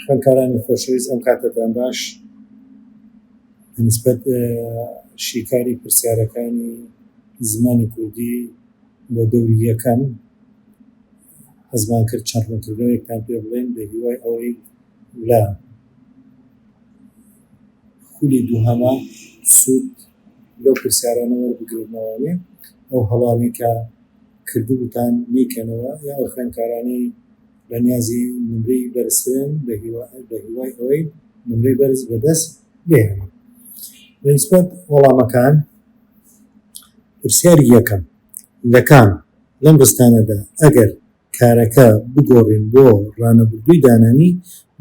خوێندکارانی خۆشەویست ئەم کاتەتان باش بە نیسبەت شیکاری پرسیارەکانی زمانی کوردی بۆ دەوری یەکەم حەزمان کرد چەند ڕوونکردنەوەیەکتان پێ بڵێن بە هیوای ئەوەی لە خولی دووهەمە سوود لەو پرسیارانە وەربگرنەوەێ ئەو هەڵانێکە کردبووتان نیکەنەوە یا ئەو خوێندکارانی بە نیازی نمرەی بەرزترن بە هیوای ئەوەی نمرەی بەرز بەدەست بهێنن لە نسبەت وەڵامەکان پرسیاری یەکەم لە کام لەم ڕستانەدا ئەگەر کارەکە بگۆڕین بۆ ڕانەبردووی دانانی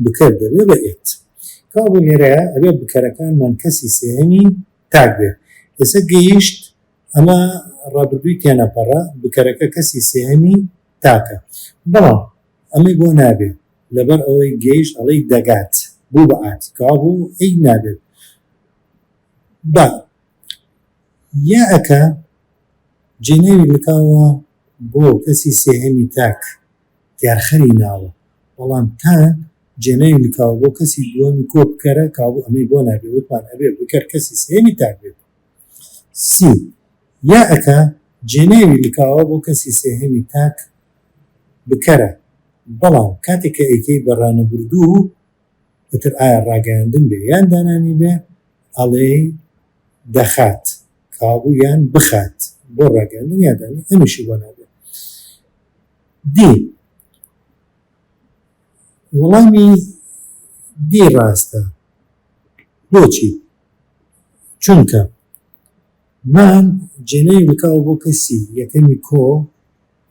بکەر دەبێ بە ئێت کابوو لێرەیە ئەبێ بکەرەکانمان کەسی سێهەمی تاک بێ ئێسە گەیشت ئەمە ڕابردووی تێنەپەڕە، بکەرەکە کەسی سێهەمی تاکە. بەڵام ئەمەی بۆ نابێ، لەبەر ئەوەی گەیشت ئەڵێی دەگات، بوو بە ئات، کەوابوو ئەی نابێت با یائەکە جێناوی لکاوە بۆ کەسی سێهەمی تاک تێرخەری ناوە، بەڵام تا جێناوی لکاوە بۆ کەسی دووەمی کۆ بکەرە، کەوابوو ئەمەی بۆ نابێ، وتمان ئەبێ بکەر کەسی سێهەمی تاک بێت. سی. یەکە، جێناوی لکاوە بۆ کەسی سێهەمی تاک بکەرە، بەڵام کاتێک کە ئەیکەی بە ڕانەبردوو ئیتر ئایا ڕاگەیاندن بێ یان دانانی بێ ئەڵێی دەخات کابوو یان بخات بۆ ڕاگەیاندن یا دانی ئەمیشی بۆ نابێ. دی. وەڵامی دی ڕاستە. بۆچی؟ چونکە مان جێناوی لکاوە بۆ کەسی یەکەمی کۆ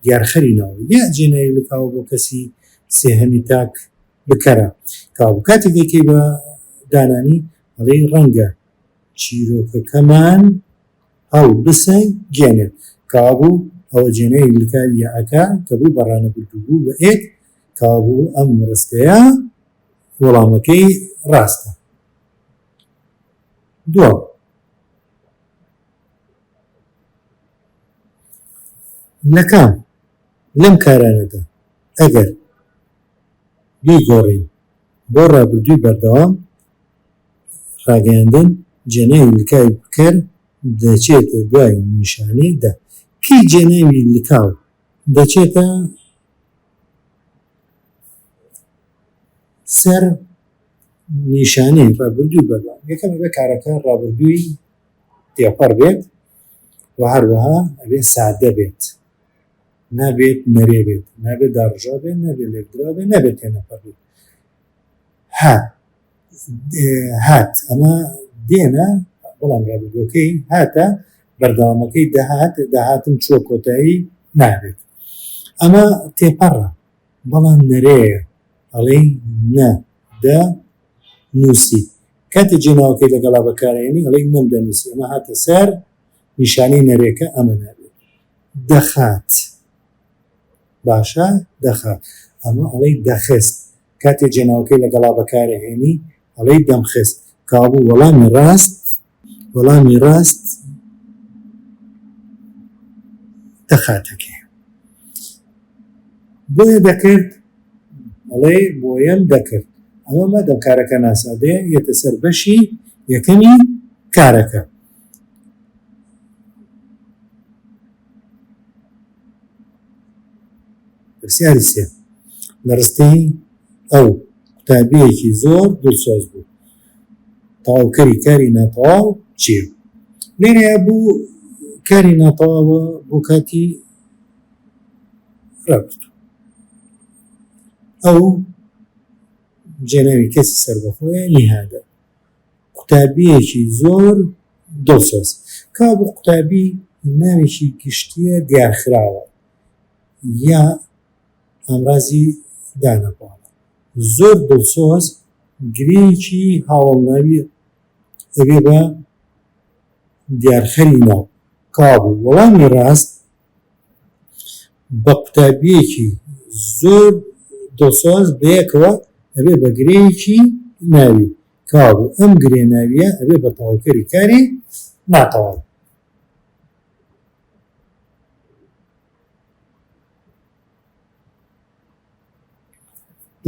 دیارخەری ناو یە جێناوی لکاوە بۆ کەسی سێهەمی تاک بکەرە کاو کاتێک دەیکەی بە دانانی ئەڵێی ڕەنگە چیرۆکەکەمان هەڵ بسە گێنێ کابوو ئەوە جێناوی لکاوی یە ئەکا کە بوو بەڕانە بردوبوو بە ئێک کابوو ئەم ڕستەیە وەڵامەکەی ڕاستە. دووەم، لەکام لەم کارانەدا ئەگەر بیگۆڕین بۆ ڕابردووی بەردەوام، ڕاگەیاندن جێناوی لکاوی بکەر دەچێتە دوای نیشانەی دە. کەی جێناوی لکاو دەچێتە سەر؟ نیشانەی ڕابردووی بەربان یەکەم ئەبێ کارەکە ڕابردووی تێپەڕ بێت و هەروەها ئەبێ سادە بێت نابێت نەرێ بێت نابێت داڕژا بێت نابێت لێکدرا بێت نابێت تێنەپەڕ بێت ها هات ئەمە دێنە بەڵام ڕابردووەکەی هاتە بەردەوامەکەی دەهات داهاتم چووە کۆتایی نابێت ئەمە تێپەڕە بەڵام نەرێیە ئەڵێی نە دە نووسیت کاتێ جێ ناوەکەی لەگەڵا بەکارئێنی ئەڵێی نەم دە نووسی ئەمە هاتە سەر نیشانەی نەرێکە ئەمە نابێت دەخات باشە دەخات ئەمە ئەڵێی دەخست کاتێ جێ ناوەکەی لەگەڵا بەکارئێنی ئەڵێی دەمخست کابوو وەڵامی ڕاست وەڵامی ڕاست دەخاتەکێ بۆیە دەکرد ئەڵێ بۆیەم دەکرد ئەوە مەدەم کارەکە ناسادەیە یەتە سەر بەشی یەکەمی کارەکە پرسیاری سێ لە ڕستەی ئەو قوتابیەکی زۆر دڵسۆز بوو تەواوکەری کاری ناتەواو چییە؟ لێرەیا بۆ کاری ناتەواوە بۆ کاتی ڕابرد ئەو جێناوی کەسی سەربەخۆیە لیهادە قوتابیەکی زۆر دڵسۆز کا بۆ قوتابی ناوێکی گشتیە دیارخراوە یا ئامرازی دانەپاڵە زۆر دڵسۆز گرێیەکی هاوەڵناوی ئەبێ بە دیارخەری ناو. کابوو وەڵامی ڕاست بە قوتابیەکی زۆر دڵسۆز بەیەکەوە ئەبێ بە گرێیەکی ناوی. کابوو ئەم گرێ ناویە ئەبێ بە تەواوکەری کاری ناتەواو.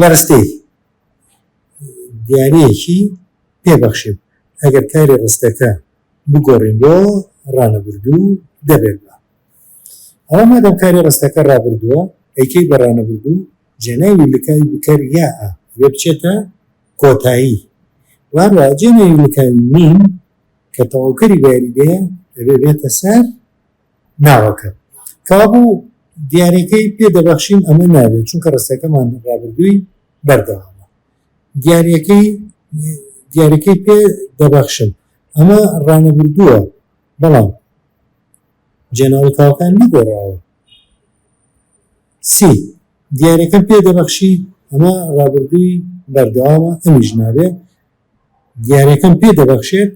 لە ڕستەی دیاریەکی پێ بەخشیم ئەگەر کاری ڕستەکە بگۆڕین بۆ ڕانەبردوو دەبێت بە ئەوە مادەم کاری ڕستەکە ڕابردووە ئەیکەی بە ڕانەبردوو جێناوی لکاوی بکەر یا ئە لێ بچێتە کۆتایی واروا جێناوی لکاوی نیم کە تەواوکەری بەیاریدەیە دەبێ بێتە سەر ناوەکە کابوو دیاریەکەی پێ دەبەخشین ئەمە نابێت چونکە ڕستەکەمان ڕابردووی بەردەوامە دیاریەکەی دیاریەکەی پێ دەبەخشن ئەمە ڕانەبردووە بەڵام جێناوی کاوەکان نەگۆڕاوە سی دیارەکە پێ دەبەخشی ئەمە ڕابردووی بەردەوامە ئەمیش نابێت دیارەکەم پێ دەبەخشێت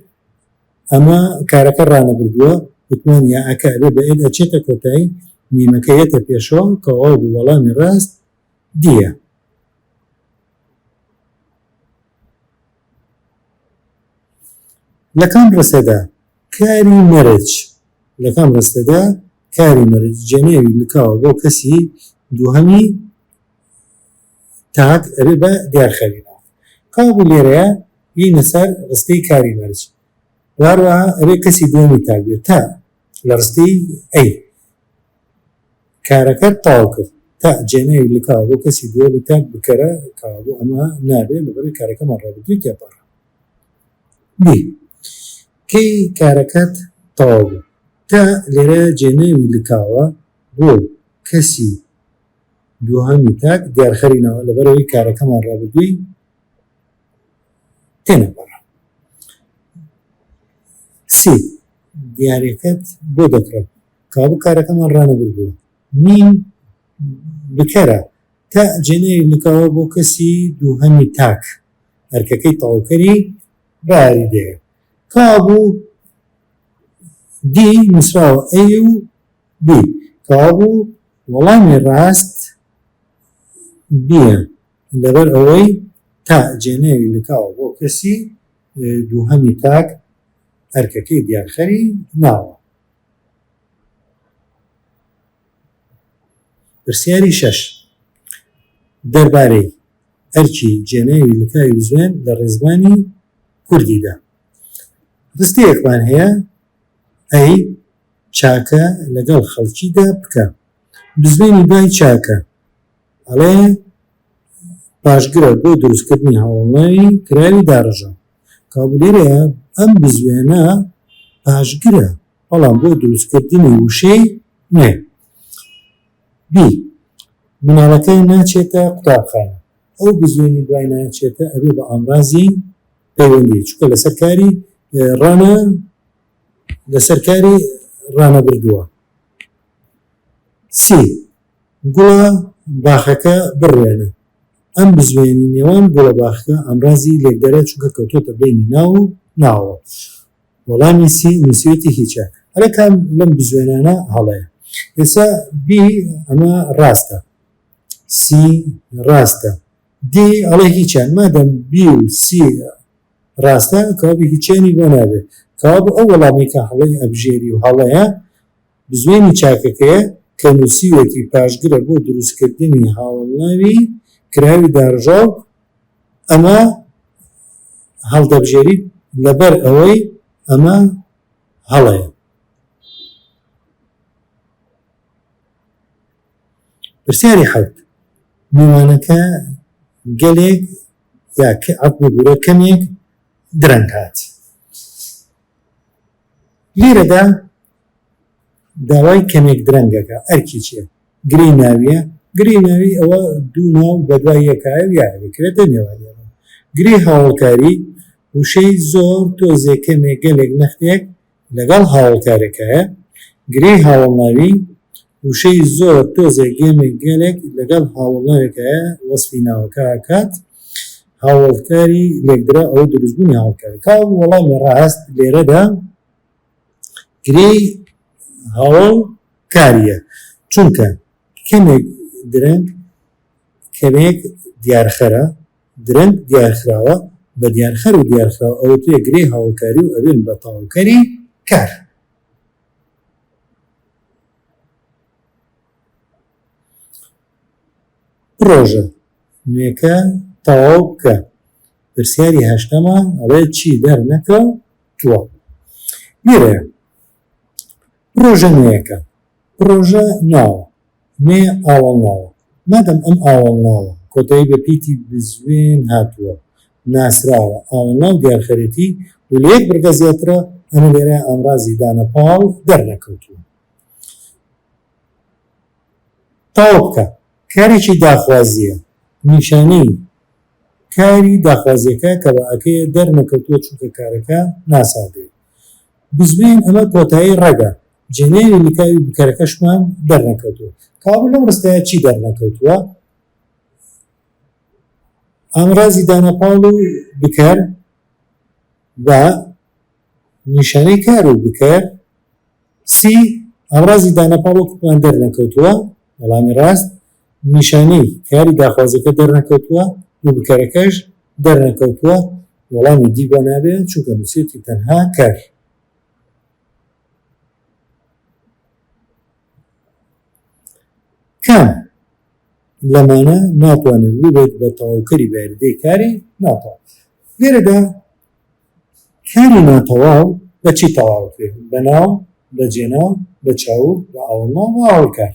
ئەمە کارەکە ڕانەبردووە وتمان یا ئەکە ئەبێ بە ئێد ئەچێتە کۆتایی میمەکە یەتە پێشەوە تەواو بوو وەڵامی ڕاست دیە. لە کام ڕستەدا کاری مەرج لە کام ڕستەدا کاری مەرج جێناوی لکاوە بۆ کەسی دووهەمی تاک ئەبێ بە دیارخەوی کابوو لێرەیە بینە سەر ڕستەی کاری مەرج وهەروەها ئەبێ کەسی دووەمی تاک بێت تە لە ڕستەی ئەی کارەکەت تەواو کرد تە جێناوی لکاوە بۆ کەسی دووەمی تاک بکەرە کابوو ئەمە نابێت لەبەرەوەی کارەکەمان ڕابردووی تێپەڕ بی کەی کارەکەت تەواو بوو تە لێرە جێناوی لکاوە بۆ کەسی دوهەمی تاک دیارخەری ناوە لەبەرئەوەی کارەکەمان ڕابردووی تێنەپەڕ سی دیارەکەت بۆ دەکڕم کابوو کارەکەمان ڕانەبر بووە نیم بکەرە تا جێنەی نکاوە بۆ کەسی دووهەمی تاک ئەرکەکەی تەواوکەری باری دێ کابوو دی نووسراوە ئەی و بی کەوابوو وەڵامی ڕاست بیە لەبەر ئەوەی تا جێناوی لکاوە بۆ کەسی دووهەمی تاک ئەرکەکەی دیارخەری ناوە. پرسیاری شەش دەربارەی ئەرکی جێناوی لکاوی بزوێن لە ڕێزمانی کوردیدا ڕستەیەکمان هەیە ئەی چاکە لەگەڵ خەڵکیدا بکە. بزوێنی دوای چاکە ئەڵێ پاشگرە بۆ دروستکردنی هەواڵنەری کراوی داڕێژە. کەوابوو لێرەیا ئەم بزوێنە پاشگرە بەڵام بۆ دروستکردنی وشەی نوێ. بی مناڵەکە ناچێتە قوتابخانە. ئەو بزوێنی دوای ناچێتە ئەبێ بە ئامرازی پەیوەندی چونکە لەسەر کاری ڕەنە لەسەر کاری ڕانەبردووە. سی، گوڵە باخەکە بڕوێنە، ئەم بزوێنی نێوان گوڵە باخەکە ئامرازی لێکدەرە چونکە کەوتۆتە بەینی ناو و ناوەوە. وەڵامی سی نووسیوێتی هیچە. ئەرێ کام لەم بزوێنانە هەڵەیە؟ ئێستا بی ئەمە ڕاستە. سی ڕاستە. دی ئەڵێ هیچیان. مادەم بی و سی ڕاستە کەوابوو هیچیانی بۆ نابێ کەوابوو ئەو وەڵامەی کە هەڵەی ئەبژێری و هەڵەیە بزوێنی چاکەکەیە کە نووسیوەتی پاشگرە بۆ دروستکردنی هاوەڵناوی کراوی داڕژاو ئەمە هەڵدەبژێریت لەبەر ئەوەی ئەمە هەڵەیە. پرسیاری حەوت میوانەکە گەلێک یا عقبی گورە کەمێک درەنگ هات لیرەدا داوای کەمێک درەنگەکە ئەرکی چێ گری ناویە گری ناوی ئەوە دوو ناو بەدوای یەکایە یاکرێتە نێوانیان گری هاوڵکاری وشەی زۆر تۆزێ کەمێک گەلێک نەختێک لەگەڵ هاوەڵکارێکایە گرێی هاوەڵناوی وشەی زۆر تۆزێک گێمێک گێلێک لەگەڵ هاوەڵناوێکایە وەسفی ناوەکە ئەکات هاوەڵکاری لێکدراو ئەوە دروستبوونی هاوەڵکارە تا وەڵامی ڕاست لێرەدا گرێی هاوەڵ کاریە چونکە کەمێک درەنگ کەمێک دیارخەرە درەنگ دیارخراوە بە دیانخەر و دیارخراو ئەوترێ گرێی هاوڵکاری و ئەبێن بە تەواوکەری کار. پڕۆژە نوێکە تەواو بکە. پرسیاری هەشتەمە ئەڵێ چی دەر نەکە و تووە لێرەیە پڕۆژە نوێیەکە پڕۆژە ناوە نێ ئاوەڵناوە، مادەم ئەم ئاوەڵناوە کۆتایی بە پیتی بزوێن هاتووە ناسراوە، ئاوەڵناو دیارخەرێتی و لە یەک بڕگە زیاترە، ئەمە لێرە ئامرازی دانە پاڵ دەرنەکەوتووە. تەواو بکە. کارێکی داخوازییە، نیشانەی کاری داخوازییەکە کە بە ئەکەیە دەرنەکەوتووە چونکە کارەکە ناساغەیە. بزوێن ئەمە کۆتایی ڕەگە جێنەری لکاوی بکەرەکەشمان دەرنەکەوتووە کابرا لەم ڕستەیە چی دەرنەکەوتووە ئامرازی دانەپاڵ و بکەر بە نیشانەی کار و بکەر سی ئامرازی دانەپاڵ و کوپمان دەرنەکەوتووە وەڵامی ڕاست نیشانەی کاری داخوازەکە دەرنەکەوتووە و بکەرەکەش دەرنەکەوتووە، وەڵامی دی بۆ نابێت، چونکە نووسیویەتی تەنها کەر. کام لەمانە ناتوانێت ببێت بە تەواوکەری بەیاریدەی کاری ناتەواو؟ لێرەدا کاری ناتەواو بە چی تەواو دەکرێت؟ بە ناو، بە جێناو، بە چاوگ، بە ئاوەڵناو، بە ئاوەڵکار.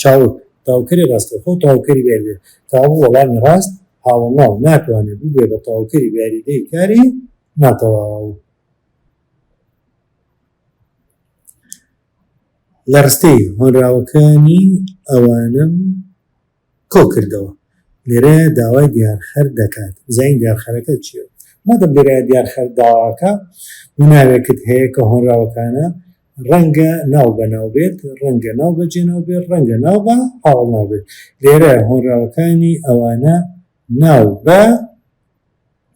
چاوگ، تاوکەری ڕاستەوخۆ تاوکەری بە یاریدەی تاوو وەڵامی ڕاست هاوەڵناو ناتوانێت ببێت بە تاوکەری بە یاریدەی کاری ناتەواو. لە ڕستەی هۆنراوەکانی ئەوانم کۆ کردەوە. لێرەیە داوای دیارخەر دەکات بزانین دیارخەرەکە چییە؟ مادەم لێرەیە دیارخەر داواکە و ناوێکت هەیە کە هۆنراوەکانە ڕەنگە ناو بە ناو بێت، ڕەنگە ناو بە جێناو بێت، ڕەنگە ناو بە پاڵناو بێت. لێرە هۆنراوەکانی ئەوانە ناو بە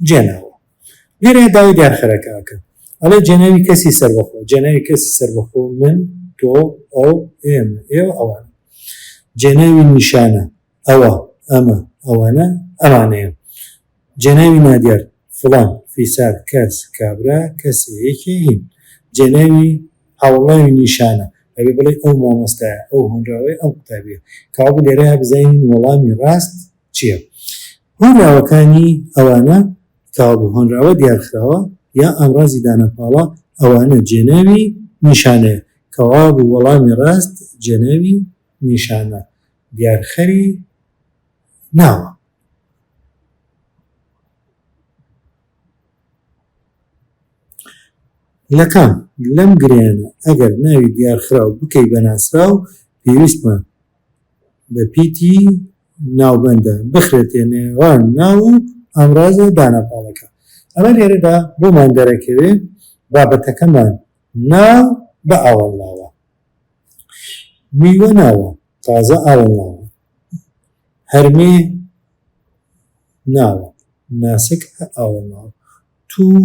جێناوە. لێرە داوای دیارخەرەکە ئەکەن. ئەڵێ جێناوی کەسی سەربەخۆ. جێناوی کەسی سەربەخۆ من، تۆ، ئەو، ئێمە، ئێوە، ئەوان. جێناوی نیشانە. ئەوە، ئەمە، ئەوەنە، ئەمانەیە. جێناوی نادیار، فڵان، فیسار، کەس، کابرا، کەسێ، یەکێ، هین. جێناوی هاوڵناوی نیشانە، ئەبێ بڵێی ئەو مامۆستایە، ئەو هۆنراوەیە، ئەم قوتابییە. کەوابوو لێرەیا بزانین وەڵامی ڕاست چییە. هۆنراوەکانی، ئەوانە، کەوابوو هۆنراوە دیارخراوە یا ئامڕازی دانەپاڵە، ئەوانە جێناوی نیشانەیە. کەوابوو وەڵامی ڕاست جێناوی نیشانە. دیارخەری ناوە. لەکام لەم گرێیانە ئەگەر ناوی دیارخراو بکەی بە ناسراو پێویستمان بە پیتی ناوبەندە بخرێتێ نێوان ناو و ئامرازە دانەپاڵەکە ئەمە لێرەدا بۆمان دەرەکەوێ بابەتەکەمان ناو بە ئاوەڵناوە میوە ناوە تازە ئاوە ناوە هەرمێ ناوە ناسک ئاوە ناوە توو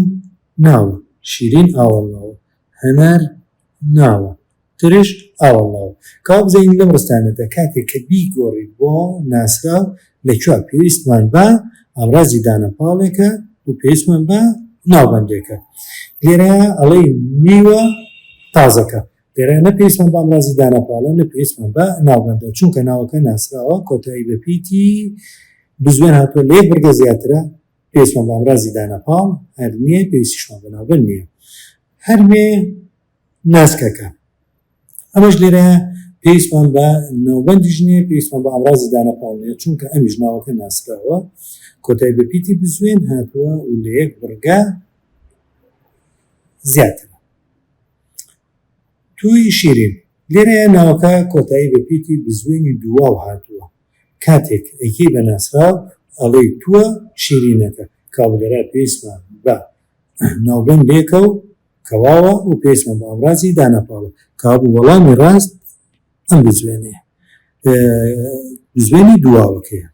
ناوە شیرین ئاوە ناوە هەنار ناوە ترش ئاوە ناوە کاو بزانین لەم ڕستانەدا کاتێک کە بیگۆڕی بۆ ناسراو لەکوێ پێویستمان بە ئامرازی دانەپاڵێکە و پێویستمان بە ناوبەندێکە لێرە ئەڵەی میوە تازەکە دەرێ نە پێویستمان بە ئامرازی دانەپاڵە نە پێویستمان بە ناوبەندە چونکە ناوەکە ناسراوە کۆتایی بە پیتی بزوێن هاتووە لە یەک بڕگە زیاترە پێویستمان بە ئامرازی دانەپاڵ هەر نییە پێویستیشمان بە ناوبەند نییە هەرمێ ناسکەکە ئەمەش لێرە پێویستمان بە ناوبەندی ژنێ پێویستمان بە ئامرازی دانەپاڵێ چونکە ئەمیش ناوەکە ناسراوە کۆتای بە پیتی بزوێن هاتووە و لە یەک بڕگە زیاتر تووی شیرین، لێرەیە ناوەکە کۆتایی بە پیتی بزوێنی دوواو هاتووە، کاتێک ئەیکەی بە ناسراو ئەڵێی تووە شیرینەکە، کابلەرا پێویستمان بە ناوبەندێکە و کەواوە و پێویستمان بە ئامرازی دانەپاڵە، کابوو وەڵامی ڕاست ئەم بزوێنەیە بزوێنی دوواوەکەیە.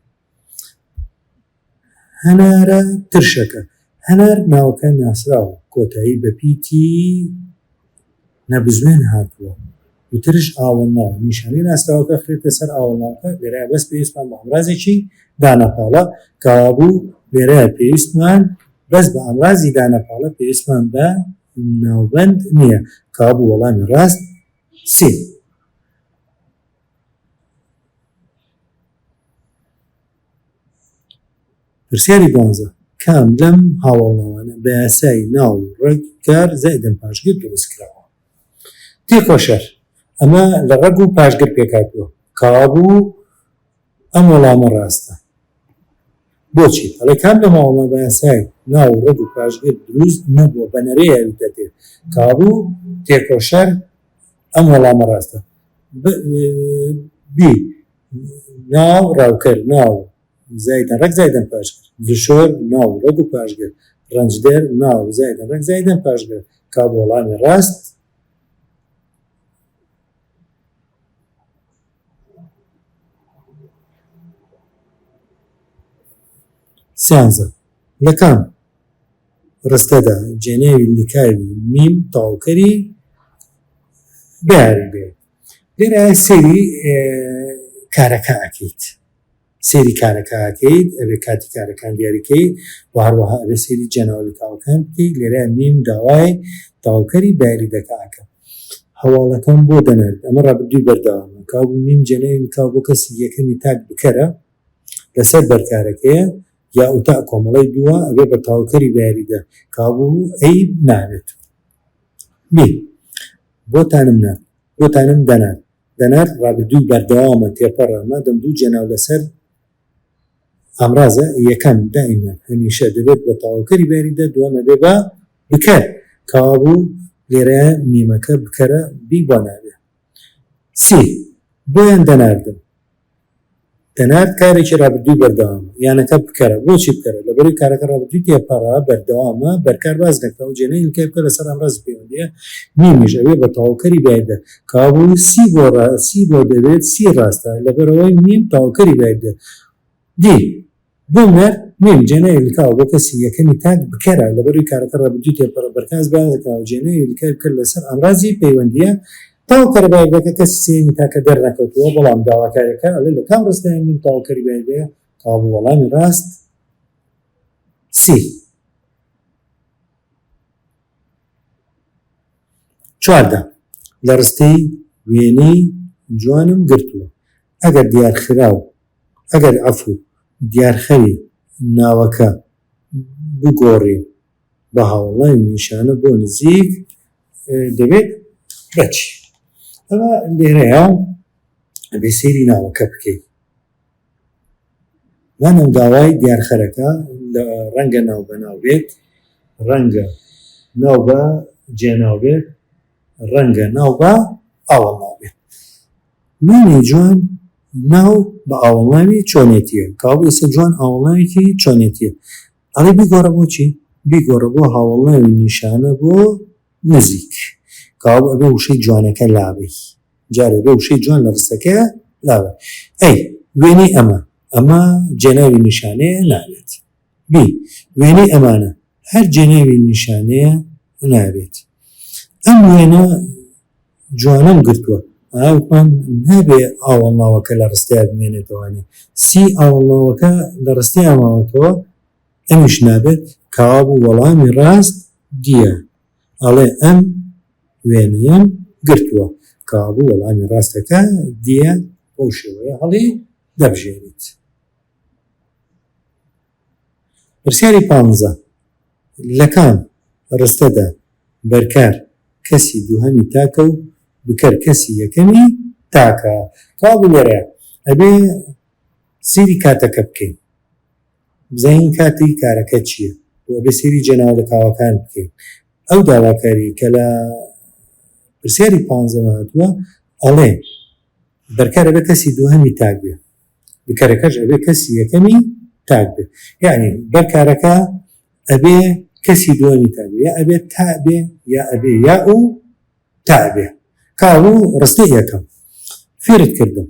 هەنارە ترشەکە هەنار ناوەکە ناسراوە کۆتایی بە پیتی نەبزوێن هاتووە و ترش ئاوەڵناو نیشانی ناسراوەکە خرێتە سەر ئاوەڵناوەکە لێرە بەس پێویستمان بە ئەمرازێکی دانەپاڵە کەوابوو لێرە پێویستمان بەس بە ئەمرازی دانەپاڵە پێویستمان بە ناوبند نییە کابوو وەڵامی ڕاست سێ پرسیاری دوانزە، کام لەم هاوەڵناوانە بە یاسای ناو و ڕەگ کار زائیدەن پاشگر دروست کراوە؟ تێکۆشەر، ئەمە لە ڕەگ و پاشگر پێکهاتووە. کاوابوو ئەم وەڵامە ڕاستە. بۆچی؟ ئەڵێ، کام لەم هاوەڵناوە بە یاسای ناو و ڕەگ و پاشگر دروست نەبووە، بە نەرێ یاویتەتێ. کاوابوو تێکۆشەر، ئەم وەڵامە ڕاستە. ب ب ناو ڕاوکەر ناو زایدن ڕەگ زایدن پاشگر دشۆر ناو ڕەگ و پاشگر ڕەنجدەر ناو زایدن ڕەگ زایدن پاشگر کاو بە وەڵامی ڕاست سیانزە لە کام؟ ڕستەدا جێناوی لکاوی میم تەواوکەری بیاوی بێ لێرە سەیری کارەکە ئەکەیت سەیری کارەکە ئەکەیت ئەبێ کاتی کارەکان دیاریکەی و هەروەها ئەبێ سەیری جێناوە لکاوەکان بکەیت لێرە میم داوای تەواوکەری باری دەکاکە هەواڵەکەم بۆ دەنێت ئەمە ڕابردووی بەردەوامە کابوو میم جێناوی لکاو بۆ کەسی یەکەمی تاک بکەرە لەسەر بەرکارەکەیە یا ئوتا کۆمەڵەی دووە ئەبێ بە تاوکەری بە یاریدە کابوو ئەی ناوێت بی بۆتانم نا بۆتانم دەنا دەنار ڕابردووی بەردەوامە تێپەڕە مادەم دوو جێناو لەسەر ئامرازە یەکەم دائیمە هەمیشە دەبێت بە تاوکەری بەریدە دوامە بێ بە بکە کابوو لێرە میمەکە بکەرە بی بۆ نابێ سی بۆیان دەناردم پێنار کارێکی رابردووی بەردەوامە، یانەکە بکەرە، بۆچی بکەرە؟ لەبەرەوەی کارەکە رابردووی تێپەڕە، بەردەوامە، بەرکار باس نەکراوە، جێنای ئیلکای بکەر لەسەر ئامرازی پەیوەندییە، میمیش ئەبێ بە تەواوکەری بایدە، کەوابوو سی بۆ سی بۆ دەبێت سی راستە، لەبەرئەوەی میم تەواوکەری بایدە. دی. دڵنیا نیم جێناوی لکاوە بۆ کەسی یەکەمی تاک بکەرە لەبەروی کارەکە ڕابردوی تێبکەڕە بەرکاس بەیانزەکراوە جێناوی لکاوی بکەر لەسەر ئامرازی پەیوەندیە تاو کەرەبایەگەکە کەسی سێیەمی تاکە دەرنەکەوتوە بەڵام داواکارێکە ئەلێ لەکام ڕستەیە من تاو کەری بایەگەیە کابو وەڵامی ڕاست سی چواردە لەڕستەی وێنەی جوانم گرتوە. ئەگەر دیارخراو، ئەگەر عەفو، دیارخەری ناوەکە بگۆڕین بە هاوڵاین نیشانە بۆ نزیک دەبێت بە چی؟ ئەوا لێرەیا ئەبێ سەیری ناوەکە بکەین. مانەوە داوای دیارخەرەکە لە ڕەنگە ناو بەناو بێت، ڕەنگە ناو بە جێناو بێت، ڕەنگە ناو بە ئاوەڵناو بێت. مینەی جوان ناو بە ئاوەڵناوی چۆنێتیە کەوابوو ئیسە جوان ئاوەڵناوێکی چۆنێتیە ئەڵێی بیگۆڕە بۆ چی بیگۆڕە بۆ هاوەڵناوی نیشانە بۆ نزیک کەوابوو ئەبێ وشەی جوانەکە لابەی جارێ ئەبێ وشەی جوان لە ڕستەکەیا لابەی ئەی وێنەی ئەمە ئەمە جێناوی نیشانەیە نابێت بی وێنەی ئەمانە هەر جێناوی نیشانەیە نابێت ئەم وێنە جوانم گرتووە ئاوپان نابێ ئاوەڵناوەکە لە ڕستەیا بمێنێتەوانێ سی ئاوەڵناوەکە لە ڕستەیا ماوەتەوە ئەمیش نابێت کەوابوو وەڵامی ڕاست دیە ئەڵێ ئەم وێنەیەم گرتووە کەوابوو وەڵامی ڕاستەکە دیە بەو شێوەیە هەڵی دەبژێریت. پرسیاری پانزە، لە کام ڕستەدا بەرکار کەسی دووهەمی تاکە و بکەر کەسی یەکەمی تاکە؟ کەوابوو لێرە ئەبێ سەیری کاتەکە بکەین بزانین کاتی کارەکە چییە و ئەبێ سەیری جێناوە لەتاوەکان بکەین. ئەو داواکاری کە لە پرسیاری پانزەمە هاتووە ئەڵێ بەرکار ئەبێ کەسی دووهەمی تاک بێ. کەرەکەش ئەبێ کەسی یەکەمی تاک بێ یانی بەر کارەکە ئەبێ کەسی دووەمی تا بێ یا ئەبێ تا بێ یا ئەبێ یا ئەو تا بێ کاڵو ڕستەی یەکەم فێرت کردم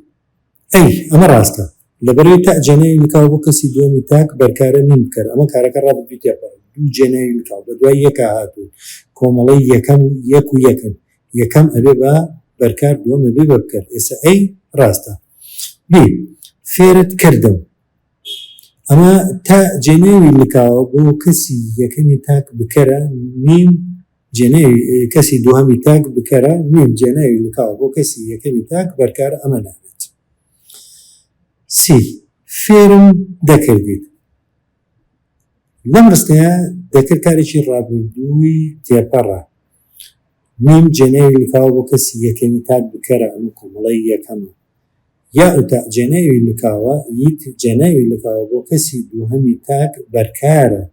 ئەی ئەمە ڕاستە لەبەرەوەی تا جێنەی نکاو بۆ کەسی دووەمی تاک بەرکارە نیم بکەر ئەمە کارەکە ڕاببیێت دوو جێنەی نکاو بە دوای یەکە هاتوو کۆمەڵی یەکەم یەک و یەکن یەکەم ئەبێ بە بەرکار دووەمە بێ بە بکرد ئێستا ئەی ڕاستە بی فێرت کردم ئەمە تا جێناوی لکاوە بۆ کەسی یەکەمی تاک بکەرە میم جێناوی کەسی دوهەمی تاک بکەرە میم جێناوی لکاوە بۆ کەسی یەکەمی تاک بەرکار ئەمە نابێت سی فێرم دەکردیت لەم ڕستەیە دەکرد کارێکی ڕابردووی تێپەڕە میم جێناوی لکاوە بۆ کەسی یەکەمی تاک بکەرە ئەمە کۆمەڵەی یەکەمە یاء و تاء جێناوی لکاوە یت جێناوی لکاوە بۆ کەسی دووهەمی تاک بەرکارە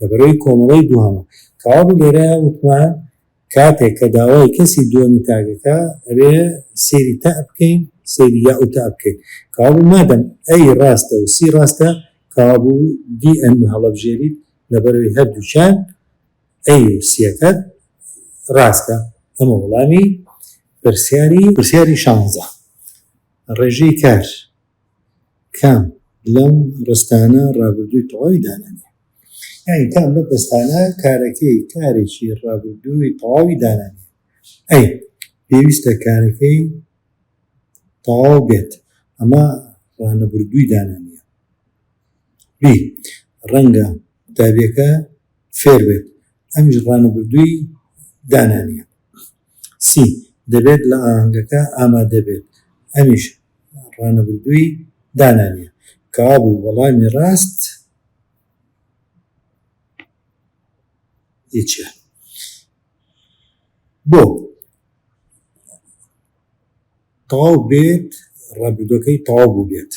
لەبەرەی کۆمەڵەی دووهەمە کەوابوو لێرەیا وتمان کاتێک کە داوای کەسی دووەمی تاک ئەکا ئەبێ سەیری تاء بکەین سەیری یاء و تاء بکەین کەوابوو مادەم ئەی ڕاستە و سی ڕاستە کەوابوو دی ئەن هەڵەبژێریت لەبەرەی هەردووکیان ئەی ورسیەکەت ڕاستە؟ ئەمە وەڵامی پرسیاری. پرسیاری شانزە، ڕێژەی کار کام لەم ڕستانە ڕابردووی تەواوی دانانیە؟ یانی کام لەم ڕستانە کارەکەی کارێکی ڕابردووی تەواوی دانانیە؟ ئەی پێویستە کارەکەی تەواو بێت، ئەمە ڕانەبردووی دانانیە. بی ڕەنگە قوتابیەکە فێر بێت ئەمیش ڕانەبردووی دانا نیە سی دەبێت لە ئاهەنگەکە ئامادە بێت ئەمیش ڕانەبردووی دانا نیە کەوابوو وەڵامی ڕاست ی چیە بۆ تەواو بێت ڕابردووەکەی تەواو بوو بێت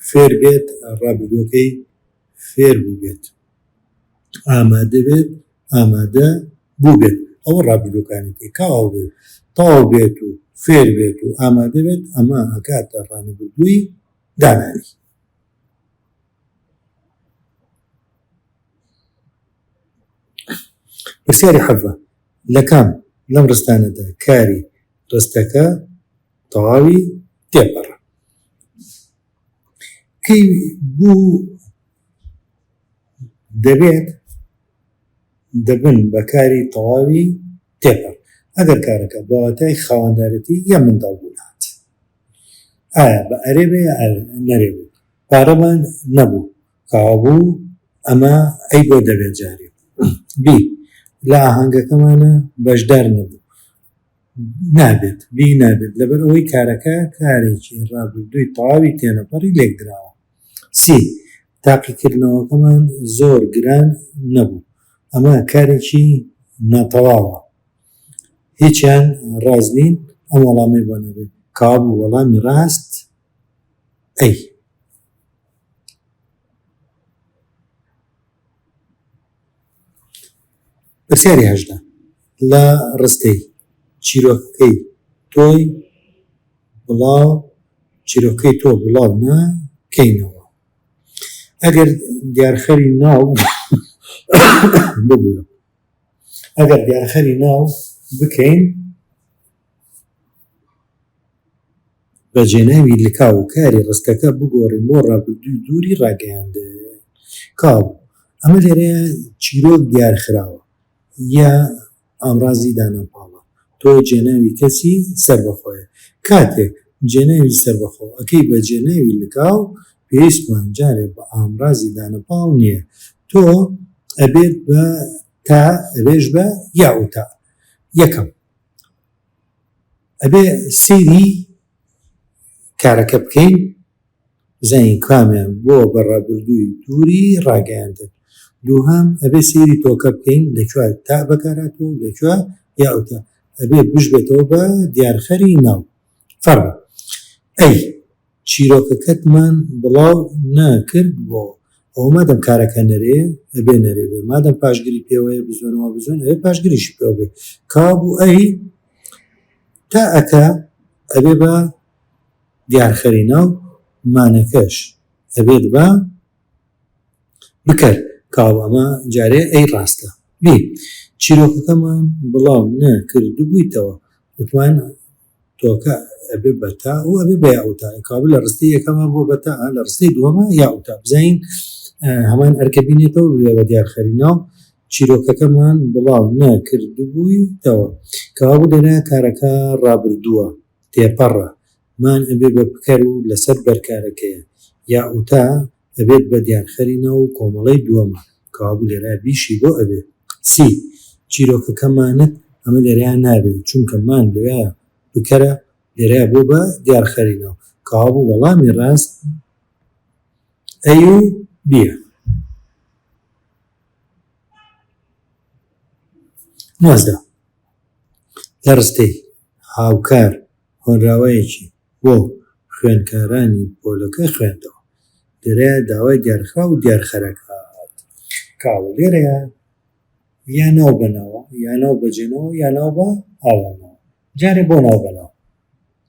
فێر بێت ڕابردووەکەی فێر بووبێت، ئامادە بێت، ئامادە بووبێت، ئەوە ڕابردووەکانیەتی، کاوابێت تەواو بێت و فێر بێت و ئامادە بێت، ئەمە ئەکاتە ڕانەبردووی دانانی. پرسیاری حەڤە، لە کام لەم ڕستانەدا کاری ڕستەکە تەواوی تێپەڕە؟ کەی بوو دەبێت دەبن بە کاری تەواوی تێپەر ئەگەر کارەکە بە واتای خاوەندارەتی یا منداڵ بوون هات ئایا بە ئەرێ بێ یا نەرێ بوو پارەمان نەبوو کاوا بوو ئەمە ئەی بۆ دەبێت جارێ بی لە ئاهەنگەکەمانە بەشدار نەبوو نابێت بی نابێت لەبەر ئەوەی کارەکە کارێکی ڕابردووی تەواوی تێنەپەڕی لێکدراوە سی تاقیکردنەوەکەمان زۆر گران نەبوو ئەمە کارێکی ناتەواوە هیچیان ڕاز نین ئەم وەڵامی بۆ نەبێت کابوو وەڵامی ڕاست ئەی پرسیاری هەژدە، لە ڕستەی، چیرۆکەکەی تۆی بڵاو، چیرۆکەی تۆ بڵاو نا کەینەوە، ئەگەر دیارخەری ناو ببوورە، ئەگەر دیارخەری ناو بکەین. بەجێناوی لکاو و کاری ڕستەکە بگۆڕی بۆ ڕابردووی دووری ڕاگەیاندن، کاو، ئەمە لێرەیا چیرۆک دیارخراوە یا ئامڕازی دانەپاڵە، تۆ جێناوی کەسی سەربەخۆیە، کاتێک جێناوی سەربەخۆ ئەکەی بە جێناوی لکاو، پێویستمان جارێ بە ئامڕازی دانەپاڵ نییە، تۆ ئەبێت بە تا ئەبێژ بە یا و تا. یەکەم. ئەبێ سەیری کارەکە بکەین بزانین کامیان بۆ بە ڕابردووی دووری ڕاگەیاندن دووهام ئەبێ سەیری تۆکە بکەین لەکوێ تا بەکارهاتوو لەکوێ یا ئەوتە ئەبێ بشبێتەوە بە دیارخەری ناو فەرموو. ئەی چیرۆکەکەتمان بڵاو نا کرد بۆ؟ ئەوە مادەم کارەکە نەرێیە ئەبێ نەرێ بێ مادەم پاشگری پێوەیە بزوێن وا بزوێن ئەبێ پاشگریشی پێوە بێ کابوو ئەی تا ئەکا ئەبێ بە دیارخەری ناو مانەکەش ئەبێت بە بکەر کاو ئەمە جارێ ئەی ڕاستە بێ چیرۆکەکەمان بڵاو نەکردبوویتەوە وتمان تۆکە ئەبێ بە تا و ئەبێ بە یاوتا کابل لە ڕستەی یەکەمە بۆ بە تا لە ڕستەی دووەمە یاوتا بزین هەمان ئەرکە بینێتەوە بێ بە دیار خەرینا و چیرۆکەکەمان بڵاو نەکردبوویتەوە کەوابوو دەنا کارەکە ڕابردووە تێپەڕە مان ئەبێ بە بکەر و لەسەر بەرکارەکەیە یاوتا ئەبێت بە دیارخەری ناو و کۆمەڵەی دووەمان، کەوابوو لێرە بیشی بۆ ئەبێت. سی، چیرۆکەکە مانت ئەمە لێرەیا نابێت، چونکە مان لێرەیا بکەرە، لێرەیا بۆ بە دیارخەری ناو، کەوابوو وەڵامی ڕاست ئەی و بییە. نۆزدە، لە ڕستەی، هاوکار، هۆنراوەیەکی. بۆ خوێندکارانی پۆلەکەی خوێندەوە. لێرەیا داوای دیارخراو و دیارخەرەکات. کاوە، لێرەیا یا ناو بە ناوە، یا ناو بە جێناوە، یا ناو بە ئاوەناوە. جارێ بۆ ناو بە ناو.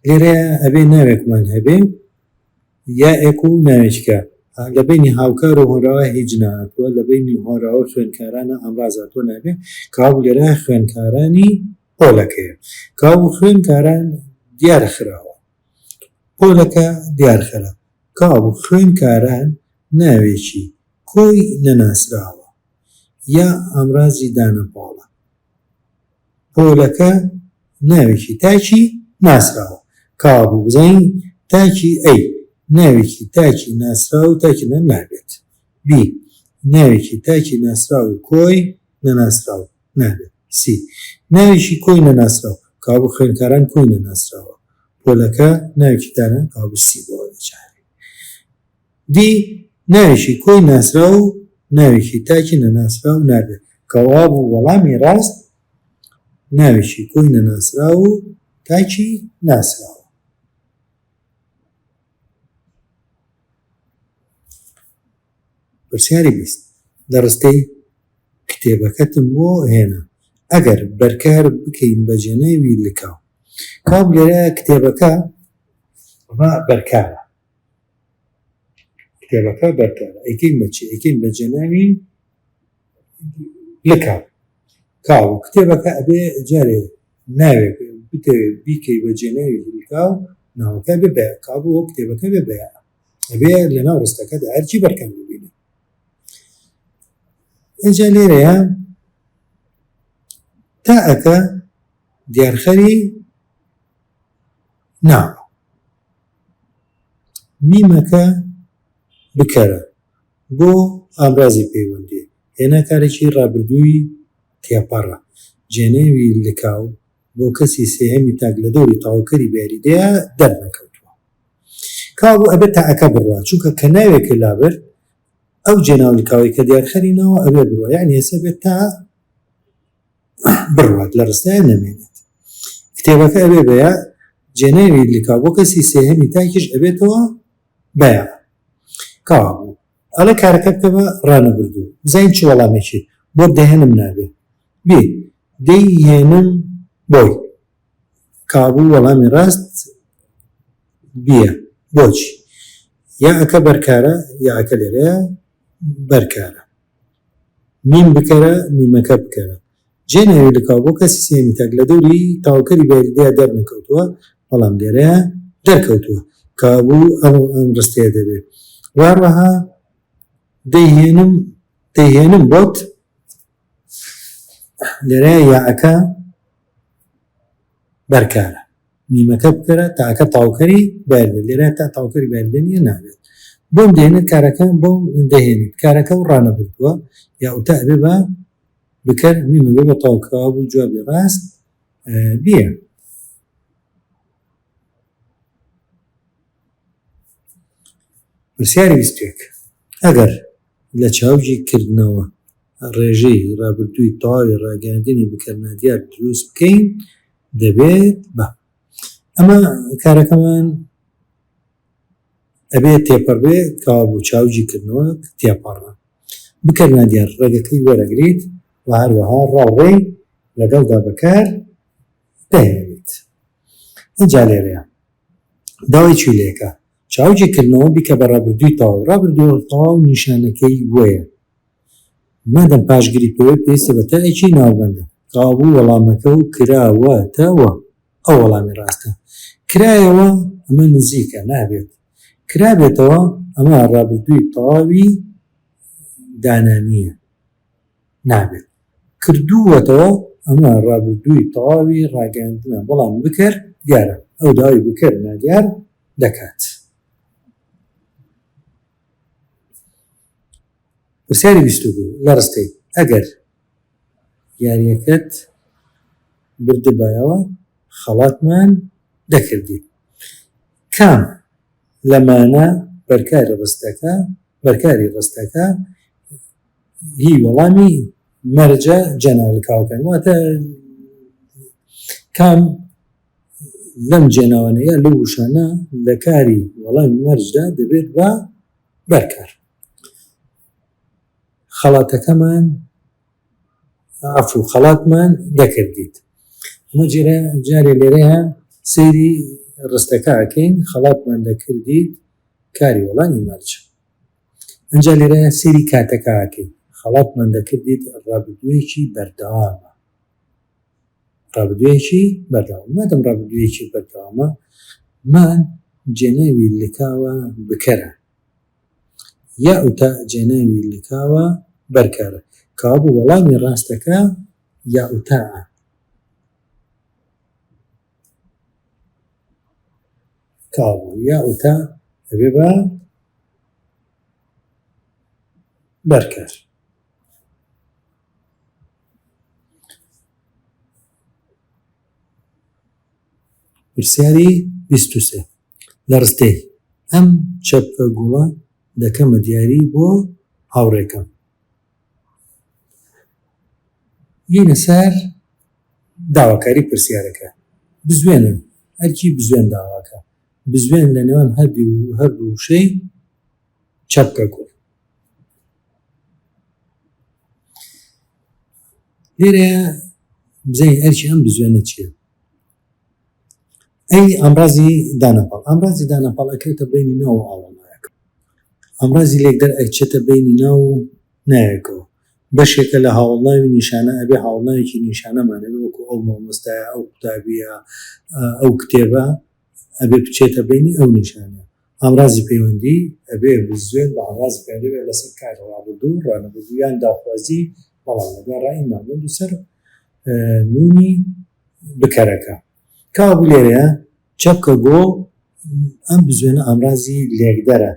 لێرەیا ئەبێ ناوێکمان هەبێ، یائێک و ناوێکیکە. لە بەینی هاوکار و هۆنراوا هیچ نەهاتووە، لە بەینی هۆنراوا و خوێندکارانە ئامراز هاتووە نابێ. کاوە، لێرەیا خوێندکارانی. پۆلەکەیە کاو و خوێنکاران دیار خراوە پۆلەکە دیار خرا کاو و خوێنکاران ناوێکی کۆی نەناسراوە یا ئامرازی دانە پۆڵە پۆلەکە ناوێکی تاکی ناسراوە کاو و بزانین تاکی ئەی ناوێکی تاکی ناسراو و تاکی نەنابێت بی ناوێکی تاکی ناسراو و کۆی نەناسراو نابێت. سی. ناوێکی کۆی نەناسراو، کەوابوو خوێنکاران کۆی نەناسراوە، پۆلەکە ناوێکی دانەن، کەوابوو سی بۆ ئەوێ چارەیە. دی. ناوێکی کۆی ناسراو و ناوێکی تاکی نەناسراو نابێت، کەوابوو وەڵامی ڕاست ناوێکی کۆی نەناسراو و تاکی ناسراوە. پرسیاری بیست، لە ڕستەی کتێبەکەتم بۆ هێنا، ئەگەر بەرکار بکەین بە جنێوی لکاو. کام لێرە کتێبەکە بەرکارە؟ کتێبەکە بەرکارە، ئەیکەین بە چی؟ ئەیکەین بە جنێوی لکاو. کاو کتێبەکە ئەبێ جارێ ناوێک بتەوێ بیکەی بە جنێوی لکاو، ناوەکە بێ بەیان، کابوو کتێبەکە بێ بەیان. ئەبێ لەناو ڕستەکەدا ئەرکی بەرکەم ببینێ ئەجا لێرەیە تا ئەکە دیارخەری نا میمەکە بکەرە بۆ ئامرازی پەیوەندی هێنا کارێکی ڕابردووی تێپەڕە جێنێوی لکاو بۆ کەسی سێهەمی تاک لە دەوری تەواوکەری بە یاریدەیا دەرنەکەوتووە کاوە بۆ ئەبێ تائەکە بڕوا چونکە کە ناوێکە لابرد ئەو جێناوی کاوەی کە دیارخەری ناوە ئەبێ بڕوا یعنی هەسە بێت تا بڕوات لە ڕستایە نەمێنێت کتێبەکە ئەبێ بەیە جێناوی لکا بۆ کەسی سێهەمی تاکیش ئەبێتەوە بەیە کاوە بوو ئەڵێ کارەکە بکەمە ڕانەبردوو بزین چ وەڵامێکی بۆ دەهێنم نابێت بێ دەی هێنم بۆی. کابو وەڵامی ڕاست بیە بۆچی؟ یاعەکە بەرکارە یاعەکە لێرەیە بەرکارە. میم بکەرە میمەکە بکەرە. جێ ناوی لە کابو کەسی سێمی تاک لە دەوری تاوکەری بەیەکدیا دەرنەکەوتووە بەڵام لێرەیا دەرکەوتووە. کابو ئەم ڕستەیە دەبێ. وەهەروەها دەی هێنم دەی هێنم بۆت. لێرە یاعەکە بەرکارە نیمەکە بکەرە تاکە تاوکەری بەردە لێرە تا تاوکەری بەردە نیە نابێت بۆم دێنە کارەکە بۆم دەهێنێت کارەکە و ڕانە بردووە یا ئوتا ئەبێ بە بکەر نیمە بێ بە تاوکراوە بوو جوابی ڕاست بیە پرسیاری ویستێک ئەگەر لە چاوجی کردنەوە ڕێژەی ڕابردووی تەواوی ڕاگەیاندنی بکەر نادیار دروست بکەین دەبێت بە ئەمە کارەکەمان ئەبێت تێپەڕ بێ کەوا بوو چاوجی کردنەوە تێپەڕە بکەر نادیار ڕێگەکەی وەرەگریت و هەروەها ڕاوڕێ لەگەڵدا بەکار دەهێنێت ئەجا لێرەیە داوای چی لێکە چاوجێ کردنەوە بیکە بە ڕابردووی تەواو، ڕابردوو تەواو نیشانەکەی وەیە مادەم پاش گریپەوەی پێویستە بە تا ێکی ناوبەندە. تەوابوو وەڵامەکە و کرا وە تە وە ئەو وەڵامی ڕاستە. کرایەوە ئەمە نزیکە نابێت کرابێتەوە ئەمە ڕابردووی تەواوی دانانییە. نابێت. کردووەتەوە ئەمە ڕابردووی تەواوی ڕاگەیاندنە بەڵام بکەر دیارە ئەو داوای بکەر نادیار دەکات. پرسیاری بیست و دوو لە ڕستەی ئەگەر یاریەکەت بردبایەوە خەڵاتمان دەکردی کام لەمانە بەرکاری ڕستەکە بەرکاری ڕستەکە هی وەڵامی مەرجە جەناڵکاوەکان واتە کام لەم جێناوانە یا لە وشانە لە کاری وەڵام مەرجدا دەبێت بە بەرکار خەڵاتەکەمان عفو خەڵاتمان دەکردیت ئەمە جێرە جارێ لێرەیە سەیری ڕستەکە ئەکەین خەڵاتمان دەکردیت کاری وەڵامی مەرجە ئینجا لێرەیە سەیری کاتەکە ئەکەیت خەڵاتمان دەکردیت ڕابردوویەکی بەردەوامە ڕابردوویەکی بەردەوام مادەم ڕابردوویەکی بەردەوامە مان جێناوی لکاوە بکەرە یا ئوتا جێناوی لکاوە بەرکارە کابوو وەڵامی ڕاستەکە یا ئوتاعە کاڵ یا ئوتا ئەبێ بە بەرکەر پرسیاری بیستوسێ لە ڕستەی ئەم چەپکە گوڵە دەکەمە دیاری بۆ هاوڕێکەم بینە سەر داواکاری پرسیارەکە. بزوێنە، ئەرکی بزوێن داواکە. بزوێن لە نێوان هەردوو وشەی چەپکە کۆن. لێرەیە بزانین ئەرکی ئەم بزوێنە چییە. ئەی ئامرازی دانەپاڵ ئامرازی دانەپاڵ ئەکرێتە بینی ناو و ئاڵا نایەکەوە ئامرازی لێکدەر ئەچێتە بینی ناو و نایەکەوە بەشێکە لە هاوڵناوی نیشانە ئەبێ هاوڵناوێکی نیشانەمان ئەبێ وەکو ئەو مامۆستایە ئەو قوتابیە ئەو کتێبە ئەبێ بچێتە بینی ئەو نیشانە ئامرازی پەیوەندی ئەبێ بزوێن بە ئامرازی پەیوەندی بێت لەسەر کاری ڕابردوو و ڕانەبردوو یان داخوازی بەڵام لەگەڵ ڕای ماموند و سەر نوونی بکەرەکە کاوە بوو لێرەیە چەپکە گۆ ئەم بزوێنە ئامرازی لێکدەرە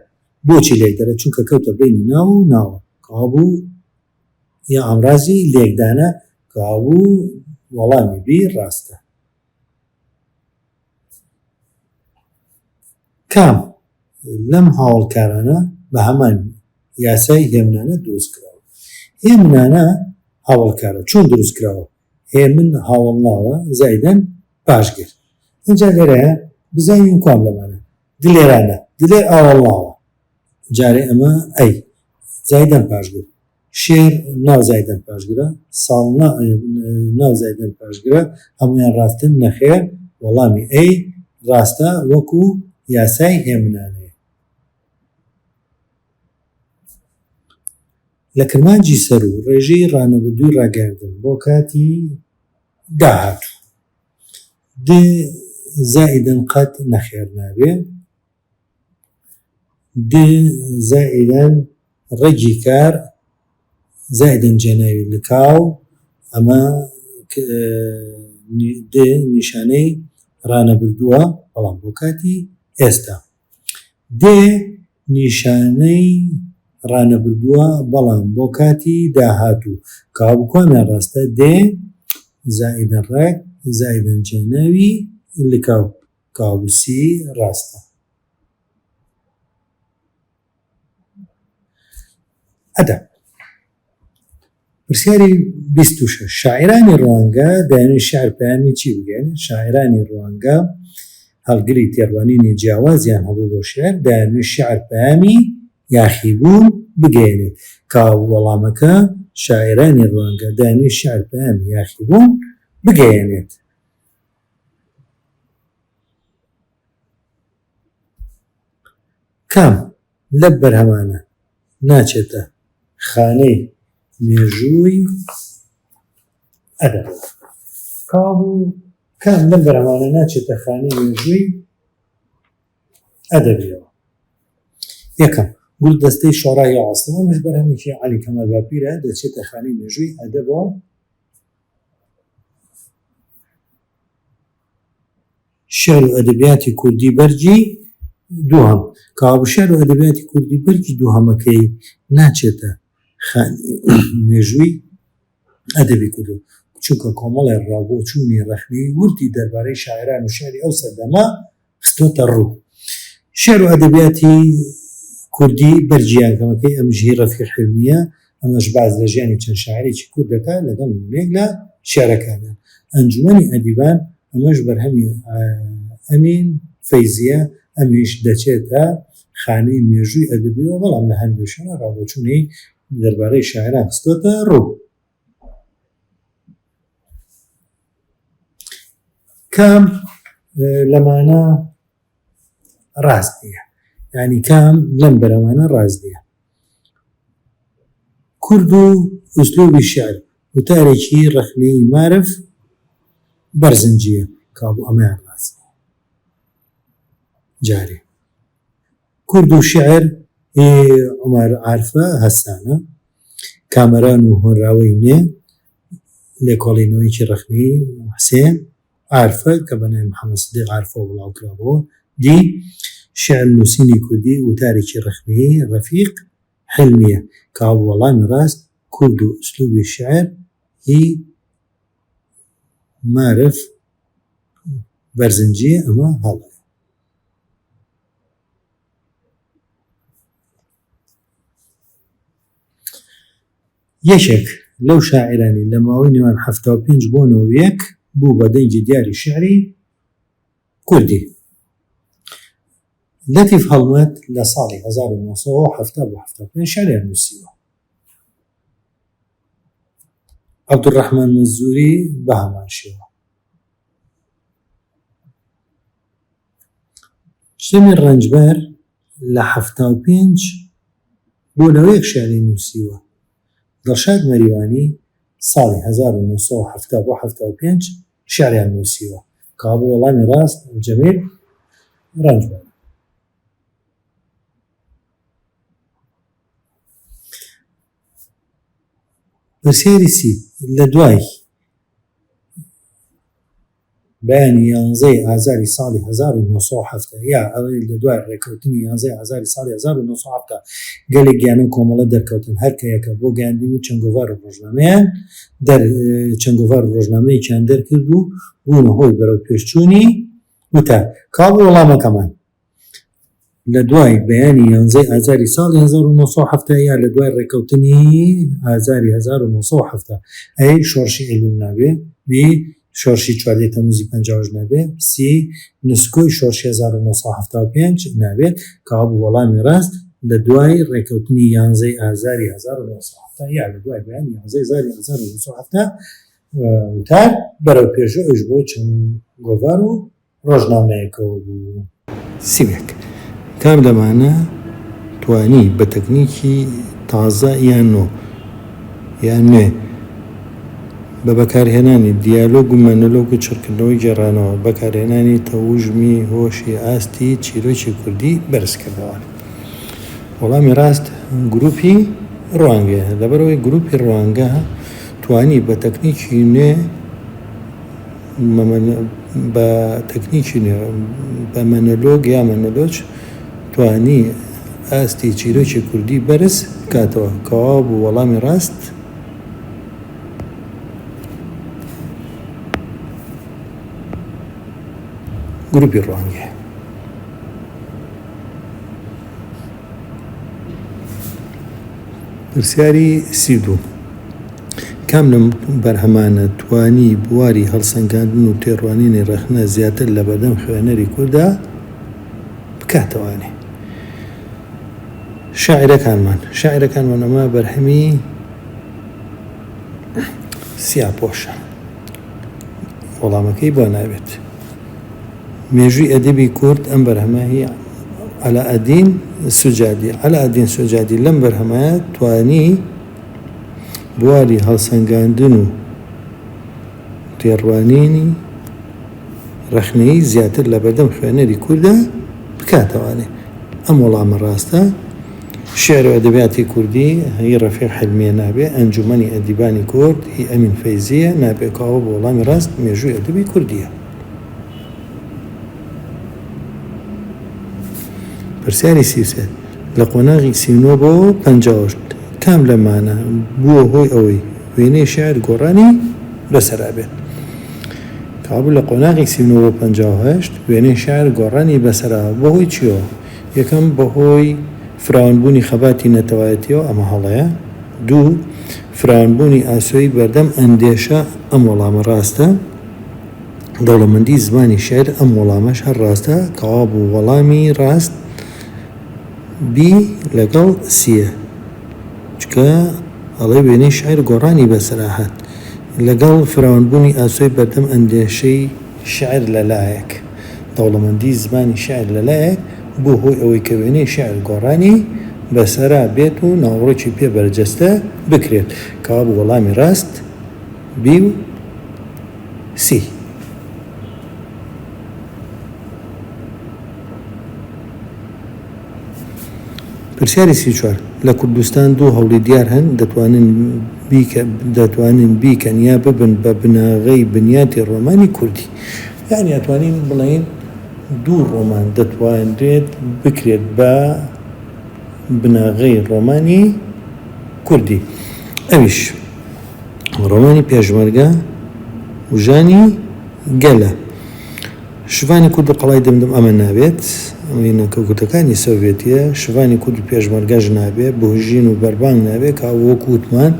بۆچی لێکدەرە چونکە کەوتە بینی ناو و ناوە کاوە بوو یا ئامرازی لێکدانە کاوە بوو وەڵامی بی ڕاستە. کام لەم هاوڵکارانە بە هەمان یاسای هێمنانە دروست کراوە هێمنانە هاوڵکارە چۆن دروست کراوە هێمن هاوڵناوە زایدەن پاشگر ئەجا لێرەیە بزانین کام لەمانە دلێرانە دلێر ئاوەڵناوە جارێ ئەمە ئەی زایدەن پاشگر شێر ناو زایدەن پاشگرە ساڵ نا ناو زایدەن پاشگرە هەمویان ڕاستن نەخێر وەڵامی ئەی ڕاستە وەکو یاسای هێمنانەیە لە کرمانجی سەر و ڕێژەی ڕانەبردووی ڕاگەاندن بۆ کاتی داهاتوو دێ زائیدن قەت نەخێر نابێ دێ زائیدەن ڕەگی کار زائیدەن جێناوی لکاو ئەمە دێ نیشانەی ڕانەبردووە بەڵام بۆ کاتی ئێستا دێ نیشانەی ڕانەبردووە بەڵام بۆ کاتی داهاتوو کاو بکۆنە ڕاستە دێ زائیدەن ڕەگ زائیدەن جێناوی لکاو کاڵوسی ڕاستە ئەدەب. پرسیاری بیست و شەش شاعیرانی ڕوانگە دەیانوی شعر پەیامی چی بگەن شاعیرانی ڕوانگە هەڵگری تێڕوانینی جیاوازیان هەبوو بۆ شعر دەیانوی شعر پەیامی یاخیبوون بگەێنێت کا وەڵامەکە شاعیرانی ڕوانگە دەیانوی شعر پەیامی یاخیبوون بگەێنێت کام لەب بەرهەمانە ناچێتە خانەی مێژووی ئەدەب؟ یەکەم، گولدەستەی شۆڕای ئاسڵ، ئەمەش بەرهەمێکی عەلی کەمال باپیرە، دەچێتە خانەی مێژووی ئەدەبەوە. شعر و ئەدەبیاتی کوردی بەرگی دووهەم کاوە شعر و ئەدەبیاتی کوردی بەرگی دووهەمەکەی ناچێتە مێژووی ئەدەبی کورد و چونکە کۆمەڵێ ڕاو بۆچوونی ڕەخنەیی وردی دەربارەی شاعران و شعری ئەو سەردەمە خستووەتە ڕوو. شیعر و ئەدەبیاتی کوردی بەرگی یانکەمەکەی ئەم ژیی ڕەفیق حیلمییە، ئەمەش باس لە ژیانی چەند شاعیرێکی کورد دەکات لەگەڵ نموونەیەک لە شیعرەکانیان، ئەنجومەنی ئەدیبان، ئەمەش بەرهەمی ئەمین فەیزییە، ئەمیش دەچێتە خانەی مێژووی ئەدەبییەوە، بەڵام لە هەندێ شوێنە ڕاوبۆچوونی دەربارەی شاعیران خستووەتە ڕوو. کام لەمانە ڕاست نیە ینی کام لەم بەرەوانە ڕاست نیە کورد و ئوسلوبی شعر وتارێکی ڕەخنەی مارف بەرزنجیە کابوو ئەمەیان ڕاست جارێ کورد و شعر عمر عرفە هەسانە کامەران و هۆنراوەی نوێ، لێکۆڵینەوەیەکی ڕەخنەیی حسێن عارفە کە بە ناوی محەمەد سدیق عارفەوە بڵاوکرابووە، دی، شیعر نووسینی کوردی، وتارێکی ڕەخنەیی ڕەفیق حیلمییە کە ئەو وەڵامی ڕاست کورد و ئسلوبی شیعر هی مارف بەرزنجی ئەمە هەڵەیە. یەکێک لەو شاعیرانەی لە ماوەی نێوان حەفتا و پێنج بۆ نەوەد و یەک بوو بە دەنگی دیاری شیعری کوردی، لەتیف هەڵمەت لە ساڵی هەزار و نۆ سەد و حەفتا بۆ حەفتا و پێنج شیعریان نووسیوە. عەبدولڕەحمان مەنزووری بە هەمان شێوە. شەمێ ڕەنجبەر لە حەفتا و پێنج بۆ نەوەیەک شیعری نووسیوە. دڵشاد مەریوانی ساڵی هەزار و نۆ سەد و حەفتا بۆ حەفتا و پێنج شیعریان نووسیوە. کەوابوو وەڵامی ڕاست جەمیل ڕەنجبەرە. پرسیاری سی، لە دوای بەیانی یانزەی ئازاری ساڵی هەزار و نۆ سەد و حەفتا یا ئەڵێن لە دوای ڕێککەوتنی یانزەی ئازاری ساڵی هەزار و نۆ سەد و حەفتا گەلێک گیانە و کۆمەڵە دەرکەوتن هەر کە یەکە بۆ گەیاندنی چەنگۆڤار و ڕۆژنامەیان دەر چەنگۆڤار و ڕۆژنامەیەکیان دەرکرد و بوونە هۆی بەرەو پێشچوونی وتار کاڵ وەڵامەکەمان لە دوای بەیانی یانزەی ئازاری ساڵی هەزار و نۆ سەد و حەفتا یا لە دوای ڕێکەوتنی ئازاری هەزار و نۆ سەد و حەفتا ئەی شۆڕشی ئەیلوول نابێ؟ بی شۆڕشی چواردەی تەمووزی پەنجا و هەشت نابێ؟ سی نسکۆی شۆڕشی هەزار و نۆ سەد و حەفتا و پێنج نابێ؟ کابوو وەڵامی ڕاست لە دوای ڕێکەوتنی یانزەی ئازاری هەزار و نۆ سەد و حەفتا یا لە دوای بەیانی یانزەی ئازاری هەزار و نۆ سەد و حەفتا وتار بەرەو پێشوو ئەویش بۆ چەند گۆڤار و ڕۆژنامەیەکەوە بوو. سیمێک، کام لەمانە توانی بە تەکنیکی تازە یان نۆ یان نوێ بە بەکارهێنانی دیالۆگ و مەنۆلۆگ و چڕکردنەوەی گێڕانەوە، بەکارهێنانی تەوژمی هۆشی ئاستی چیرۆکی کوردی بەرز کردەوە؟ وەڵامی ڕاست گروپی ڕوانگەیە، لەبەرئەوەی گروپی ڕوانگە توانی بە تەکنیکی نوێ، بە تەکنیکی نوێ، بە مەنۆلۆگ یا مەنۆلۆج، توانی ئاستی چیرۆکی کوردی بەرز بکاتەوە، کە واو بوو وەڵامی ڕاست، گروپی ڕوانگە. پرسیاری سی و دوو، کام لەم بەرهەمانە توانی بواری هەڵسەنگاندن و تێڕوانینی ڕەخنە زیاتر لە بەردەم خوێنەری کوردا بکاتەوانێ؟ شاعیرەکانمان، شاعیرەکانمان ئەمە بەرهەمی سیاپۆشە، وەڵامەکەی بۆ نابێت. مێژووی ئەدەبی کورد، ئەم بەرهەمە هی عەلائەدین سوجادییە. عەلائەدین سوجادی لەم بەرهەمەیا توانی بواری هەڵسەنگاندن و تێڕوانینی ڕەخنەیی زیاتر لە بەردەم خوێنەری کوردا بکاتەوانێ. ئەم وەڵامە ڕاستە. شیعر و ئەدەبیاتی کوردی هی ڕەفیق حلمییە نابێ، ئەنجوومەنی ئەدیبانی کورد هی ئەمین فەیزییە نابێ، کاوە بۆ وەڵامی ڕاست مێژووی ئەدەبی کوردییە. پرسیاری سی و سێ، لە قۆناغی سی و نۆ بۆ پەنجا و هەشت کام لەمانە بووە هۆی ئەوەی وێنەی شاعیر گۆڕانی بەسەرا بێت؟ کەوابوو لە قۆناغی سی و نۆ بۆ پەنجا و هەشت وێنەی شاعیر گۆڕانی بەسەرا بەهۆی چییەوە؟ یەکەم، بەهۆی فراوانبوونی خەباتی نەتەوایەتییەوە، ئەمە هەڵەیە. دوو، فراوانبوونی ئاسۆی بەردەم ئەندێشە، ئەم وەڵامە ڕاستە. دەوڵەمەندی زمانی شیعر ئەم وەڵامەش هەر ڕاستە کەوا بوو وەڵامی ڕاست بی لەگەڵ سیە چکە ئەڵێ وێنەی شیعر گۆڕانی بەسەرا هات لەگەڵ فراوانبوونی ئاسۆی بەردەم ئەندێشەی شیعر لەلایەک دەوڵەمەندی زمانی شیعر لەلایەک بووە هۆی ئەوەی کە وێنەی شیعر گۆڕانی بەسەرا بێت و ناوەڕۆکی پێ بەرجەستە بکرێت کەوا بوو وەڵامی ڕاست بی و سی. پرسیاری سی و چوار، لە کوردستان دوو هەوڵی دیار هەن دەتوانن بیکە دەتوانن بیکەن یا ببن بە بناغەی بنیاتی ڕۆمانی کوردی. یانی ئەتوانین بڵێین دوو ڕۆمان دەتوانرێت بکرێت بە بناغەی ڕۆمانی کوردی. ئەویش. ڕۆمانی پێشمەرگە و ژانی گەلە. شڤانی کورد و قەڵای دمدم ئەمە نابێت، ئەمەی نەکە گوتەکانی سۆڤێتیە، شڤانی کورد و پێشمەرگەش نابێ، بهژین و بەربانگ نابێ، کە وەکو وتمان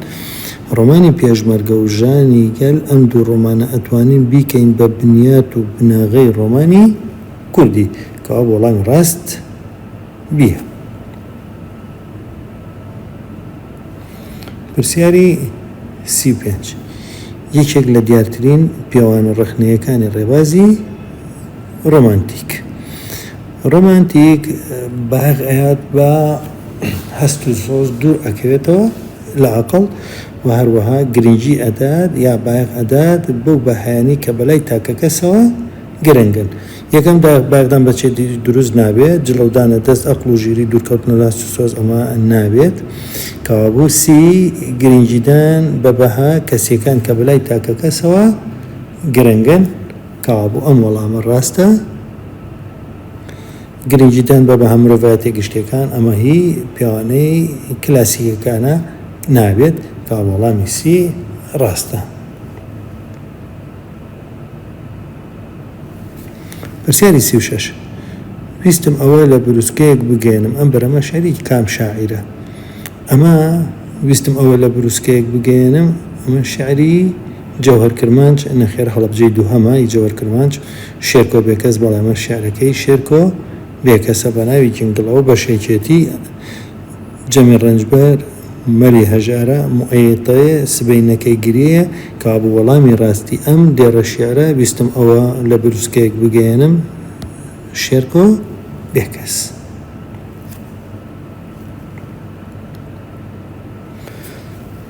ڕۆمانی پێشمەرگە و ژانی گەل ئەم دوو ڕۆمانە ئەتوانین بیکەین بە بنیات و بناغەی ڕۆمانی کوردی. کەوابوو وەڵامی ڕاست. بیە. پرسیاری سی و پێنج. یەکێک لە دیارترین پێوان و ڕەخنەیەکانی ڕێبازی ڕۆمانتیک. ڕۆمانتیک بایەخ ئەیات بە هەست و سۆز دوور ئەکەوێتەوە لە ئەقڵ و هەروەها گرنگی ئەدات یا بایەخ ئەدات بەو بەهایانەی کە بەلای تاکەکەسەوە گرنگن. یەکەم داخ باخدان بە چێ دروست نابێ جڵەودانە دەست ئەقڵ و ژیری دوور کەوتنە لاس و سۆز ئەمە نابێت کەوابوو سی گرنگیدان بە بەها کەسیەکان کە بەلای تاکە کەسەوە گرنگن کەوابوو ئەم وەڵامە ڕاستە گرنگیدان بە بەها مرۆڤایەتە گشتەکان ئەمە هی پیاوانەی کلاسیکەکانە نابێت کە وەڵامی سی ڕاستە پرسیاری سی و شەش، ویستم ئەوە لە بروسکەیەک بگەیەنم ئەم بەرەمە شعری کام شاعیرە؟ ئەمە، ویستم ئەوە لە بروسکەیەک بگەیەنم، ئەمە شعری، جەوهەر کرمانج، نەخێر هەڵەبجەی دووهەمە، ی جەوەر کرمانج، شێرکۆ بێکەس، بەڵێ ئەمە شعرەکەی شێرکۆ بێکەسە بە ناوی جنگڵ ئەو بەشێکێتی، جەمی ڕەنجبەر، مەری هەژارە، موعیتەێ سبەینەکەی گریەیە، کابوو وەڵامی ڕاستی ئەم دێڕە شێعرە ویستم ئەوە لە بروسکەێک بگەیەنم شێرکۆ بێکەس.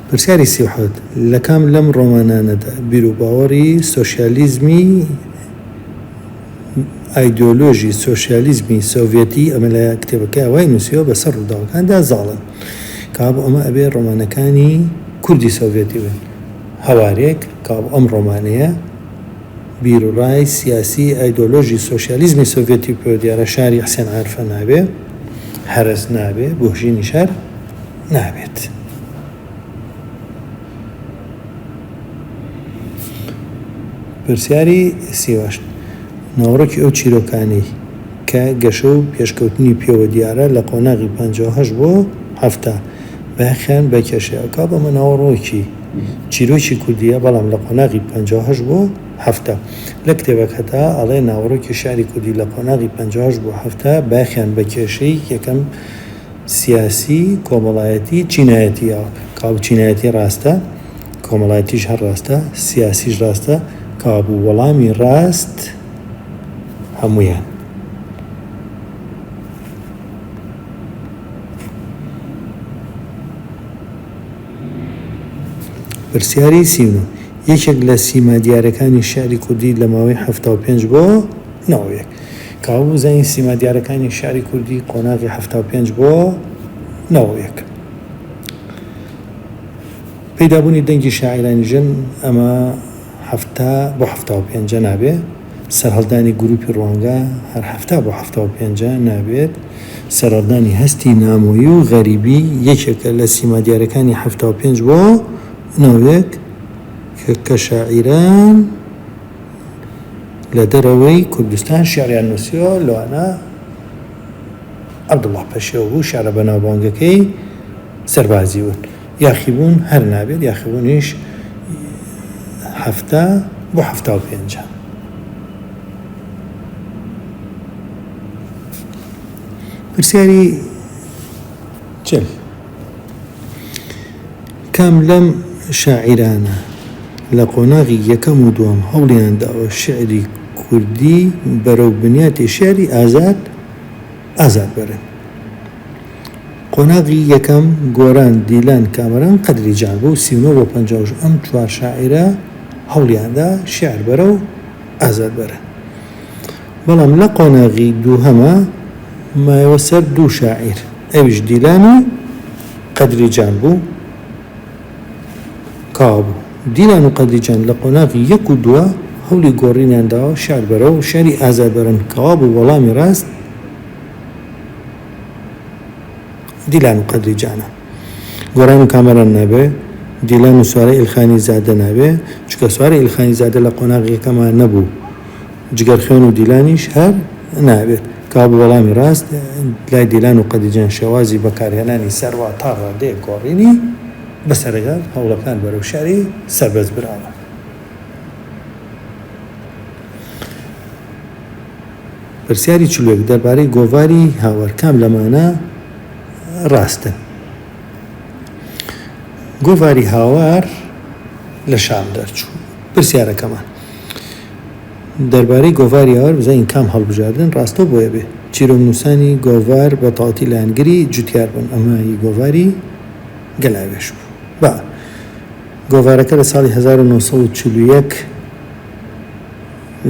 پرسیاری سی و حەوت، لە کام لەم ڕۆمانانەدا بیرو باوەڕی سۆشیالیزمی، ئایدۆلۆژی سۆشیالیزمی سۆڤێتی ئەمە لە کتێبەکەیا وای نووسیوە بە سەر ڕووداوەکاندا زاڵە. کابۆ ئەمە ئەبێ ڕۆمانەکانی کوردی سۆڤێتی بن. هەوارێک کابۆ ئەم ڕۆمانەیە بیروڕای سیاسی ئایدۆلۆژی سۆشیالیزمی سۆڤێتی پێوە دیارە شاری حسێن عارفە نابێ، هەرەس نابێ، گۆشینی شار نابێت. پرسیاری سیاوەشت، ناوەڕۆکی ئەو چیرۆکانەی کە گەشە و پێشکەوتنی پێوە دیارە لە قۆناغی پەنجا و هەشت بۆ حەفتا، بایەخیان بە کێشەیە. ئەو کاتە ئەمە ناوەڕۆکی چیرۆکی کوردییە، بەڵام لە قۆناغی پەنجا و هەشت بۆ حەفتا. لە کتێبەکەدا ئەڵێ ناوەڕۆکی شیعری کوردی لە قۆناغی پەنجا و هەشت بۆ حەفتا بایەخیان بە کێشەی یەکەم، سیاسی، کۆمەڵایەتی، چینایەتییە، کابو چینایەتی ڕاستە، کۆمەڵایەتیش هەر ڕاستە، سیاسیش ڕاستە، کابو وەڵامی ڕاست هەموویان. پرسیاری سی و نۆ، یەکێک لە سیما دیارەکانی شیعری کوردی لە ماوەی حەفتا و پێنج بۆ نەوەیەک. کاوە بوزەنی سیما دیارەکانی شعری کوردی قۆناغی حەفتا و پێنج بۆ نەوەیەک پەیدابوونی دەنگی شاعیرانی ژن ئەمە حەفتا بۆ حەفتا و پێنجە نابێ سەرهەڵدانی گروپی ڕوانگە هەر حەفتا بۆ حەفتا و پێنجە نابێت سەرهەڵدانی هەستی نامۆیی و غەریبی یەکێکە لە سیما دیارەکانی حەفتا و پێنج بۆ نەوەیەک کە شاعیران لە دەرەوەی کوردستان شیعریان نووسیوە، لەوانە عەبدوڵڵا پەشێو بوو، شیعرە بەناوبانگەکەی سەربازی بوون. یاخیبوون هەر نابێت، یاخیبوونیش حەفتا بۆ حەفتا و پێنجە. پرسیاری چل. کام لەم شاعیرانە لە قۆناغی یەکەم و دووەم هەوڵیان داوە شیعری کوردی بەرەو بنیاتی شیعری ئازاد ئازاد بەرن؟ قۆناغی یەکەم گۆران، دیلان، کامەران، قەدری جان بوو، سی و نۆ بۆ پەنجا و شەش ئەم چوار شاعیرە هەوڵیان دا شیعر بەرەو ئازاد بەرن. بەڵام لە قۆناغی دووهەما مایەوە سەر دوو شاعیر ئەویش دیلان و قەدری جان بوو کاوە بوو. دیلان و قەدری جان لە قۆناغی یەک و دووە هەولی گۆڕینیان داوە شیعر بەرەو شیعری ئازاد بەرن کاوە بوو وەڵامی ڕاست دیلان و قەدری جانە. گۆران و کامەران نابێ دیلان و سارە ئیلخانی زادە نابێ چونکە سارە ئیلخانی زادە لە قۆناغی یەکەما نەبوو. جگەر خوێن و دیلانیش هەر نابێت. کابو وەڵامی ڕاست لای دیلان و قەدیجان شێوازی بەکارهێنانی سەروا تا ڕادەیەک گۆڕینی بەسەرەگەڵ هەوڵەکان بەرەو شاری سەربەست براوە. پرسیاری چل و یەک دەربارەی گۆڤاری هاوار کام لەمانە ڕاستن؟ گۆڤاری هاوار لە شام دەرچوو. پرسیارەکەمان. دەربارەی گۆڤار یاوەر بزانین کام هەڵبژاردن ڕاستە و بۆیە بێ چیرۆکنووسانی گۆڤار بە تەواوەتی لایەنگری جوتیار بوون، ئەمە هی گۆڤاری گەلاوێژ بوو. با گۆڤارەکە لە ساڵی هەزار و نۆ سەد و چل و یەک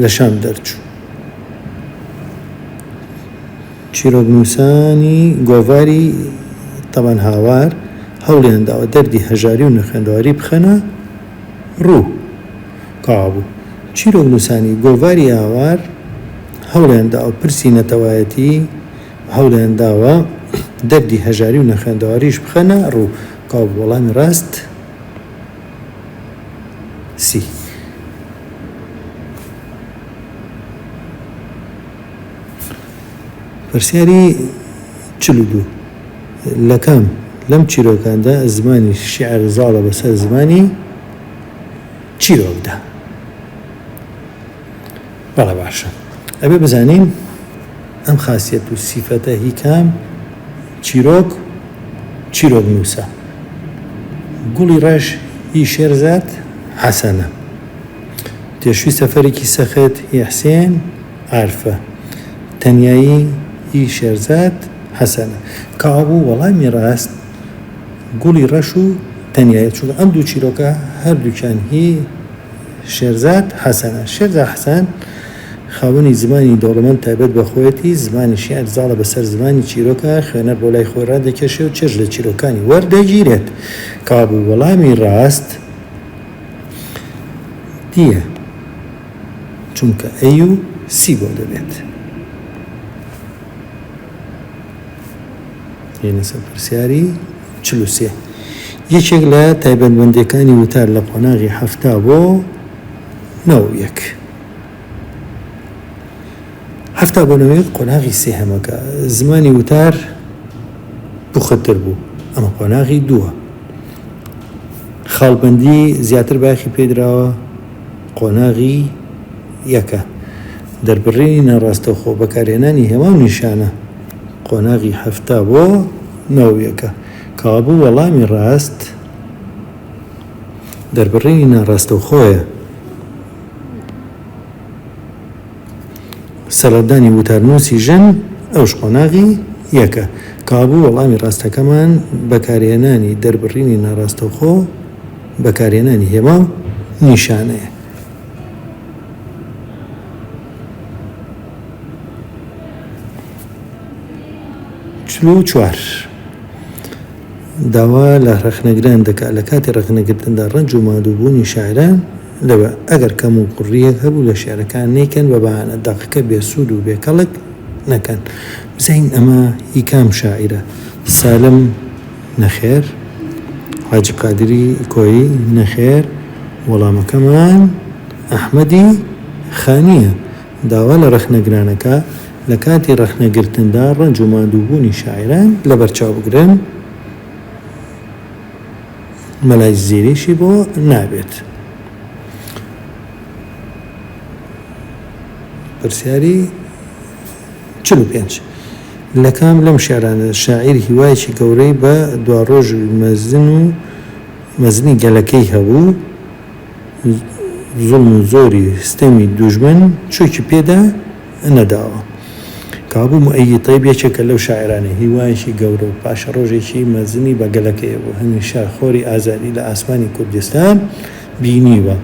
لە شام دەرچوو. چیرۆکنووسانی گۆڤاری تەبەن هاوار هەوڵیان داوە دەردی هەژاری و نەخوێندەواری بخەنە ڕوو. تەوابوو چیرۆک نووسانی گۆڤاری ئاوار هەوڵیان دا و پرسی نەتەوایەتی و هەوڵیان داوە دەردی هەژاری و نەخوێندەواریش بخەنە ڕوو تەوابوو وەڵامی ڕاست سی. پرسیاری چل و دوو لەکام لەم چیرۆکاندا زمانی شیعر زاڵە بەسەر زمانی؟ چیرۆکدا. بەڵێ باشە ئەبێ بزانین ئەم خاسیەت و سیفەتە هی کام چیرۆک چیرۆک نووسە. گوڵی ڕەش هی شێرزاد حەسەنە. تێشوی سەفەرێکی سەخت هی حسێن عارفە. تەنیایی هی شێرزاد حەسەنە. کابوو وەڵامی ڕاست. گوڵی ڕەش و تەنیایی، چونکە ئەم دوو چیرۆکە هەردووکیان هی شێرزاد حەسەنە. شێرزاد حەسەن خاوەنی زمانی دەوڵەمەند تایبەت بە خۆیەتی، زمانی شیعر زاڵە بەسەر زمانی چیرۆکە، خوێنەر بۆ لای خۆی ڕادەکێشێ و چێژ لە چیرۆکانی وەردەگیرێت. کابوو وەڵامی ڕاست دییە، چونکە ئەی و سی بۆ دەبێت. پرسیاری چل و سێ. یەکێک لە تایبەتمەندییەکانی وتار لە قۆناغی حەفتا بۆ نۆ و یەک. حەفتا بۆ نۆ و یەک قۆناغی سێهەمەکە زمانی وتار پوختر بوو، ئەمە قۆناغی دووە. خاڵبەندی زیاتر بایەخی پێدراوە قۆناغی یەکە. دەربڕینی ناڕاستەوخۆ بەکارهێنانی هێما و نیشانە. قۆناغی حەفتا بۆ نەوەویەکە کەوابوو وەڵامی ڕاست دەربڕینی ناڕاستەوخۆیە. سەرلەبدانی وتارنووسی ژن ئەوش قۆناغی یەکە کەوابوو وەڵامی ڕاستەکەمان بەکارهێنانی دەربڕینی ناڕاستەوخۆ بەکارهێنانی هێما و نیشانەیە. چل و چوار. داوا لە ڕەخنەگران دەکات لە کاتی ڕەخنەگرتندا ڕەنج و ماندووبوونی شاعران لەوە ئەگەر کەموکوڕییەک هەبوو لە شیعرەکان نەیکەن بە بەهانە دەقەکە بێسوود و بێکەڵک نەکەن. بزانین ئەمە هی کام شاعیرە؟ سالم. نەخێر حاجی قادری کۆیی نەخێر وەڵامەکەمان ئەحمەدی خانییە داوا لە ڕەخنەگرانەکا لە کاتی ڕەخنەگرتندا ڕەنج و ماندووبوونی شاعیران لەبەرچاو بگرن مەلای زیریشی بۆ نابێت پرسیاری چل و پێنج. لە کام لەم شیعرانە شاعیر هیوایەکی گەورەی بە دواڕۆژی مەزن و مەزنی گەلەکەی هەبوو، زوڵم و زۆری ستەمی دوژمن چۆکی پێدا نەداوە؟ کابوو موئەیید تەیب یەکێکە لەو شاعیرانەی هیوایەکی گەورە و پاشەڕۆژێکی مەزنی بە گەلەکەی هەبوو، هەمیشە خۆری ئازادی لە ئاسمانی کوردستان، بینیوە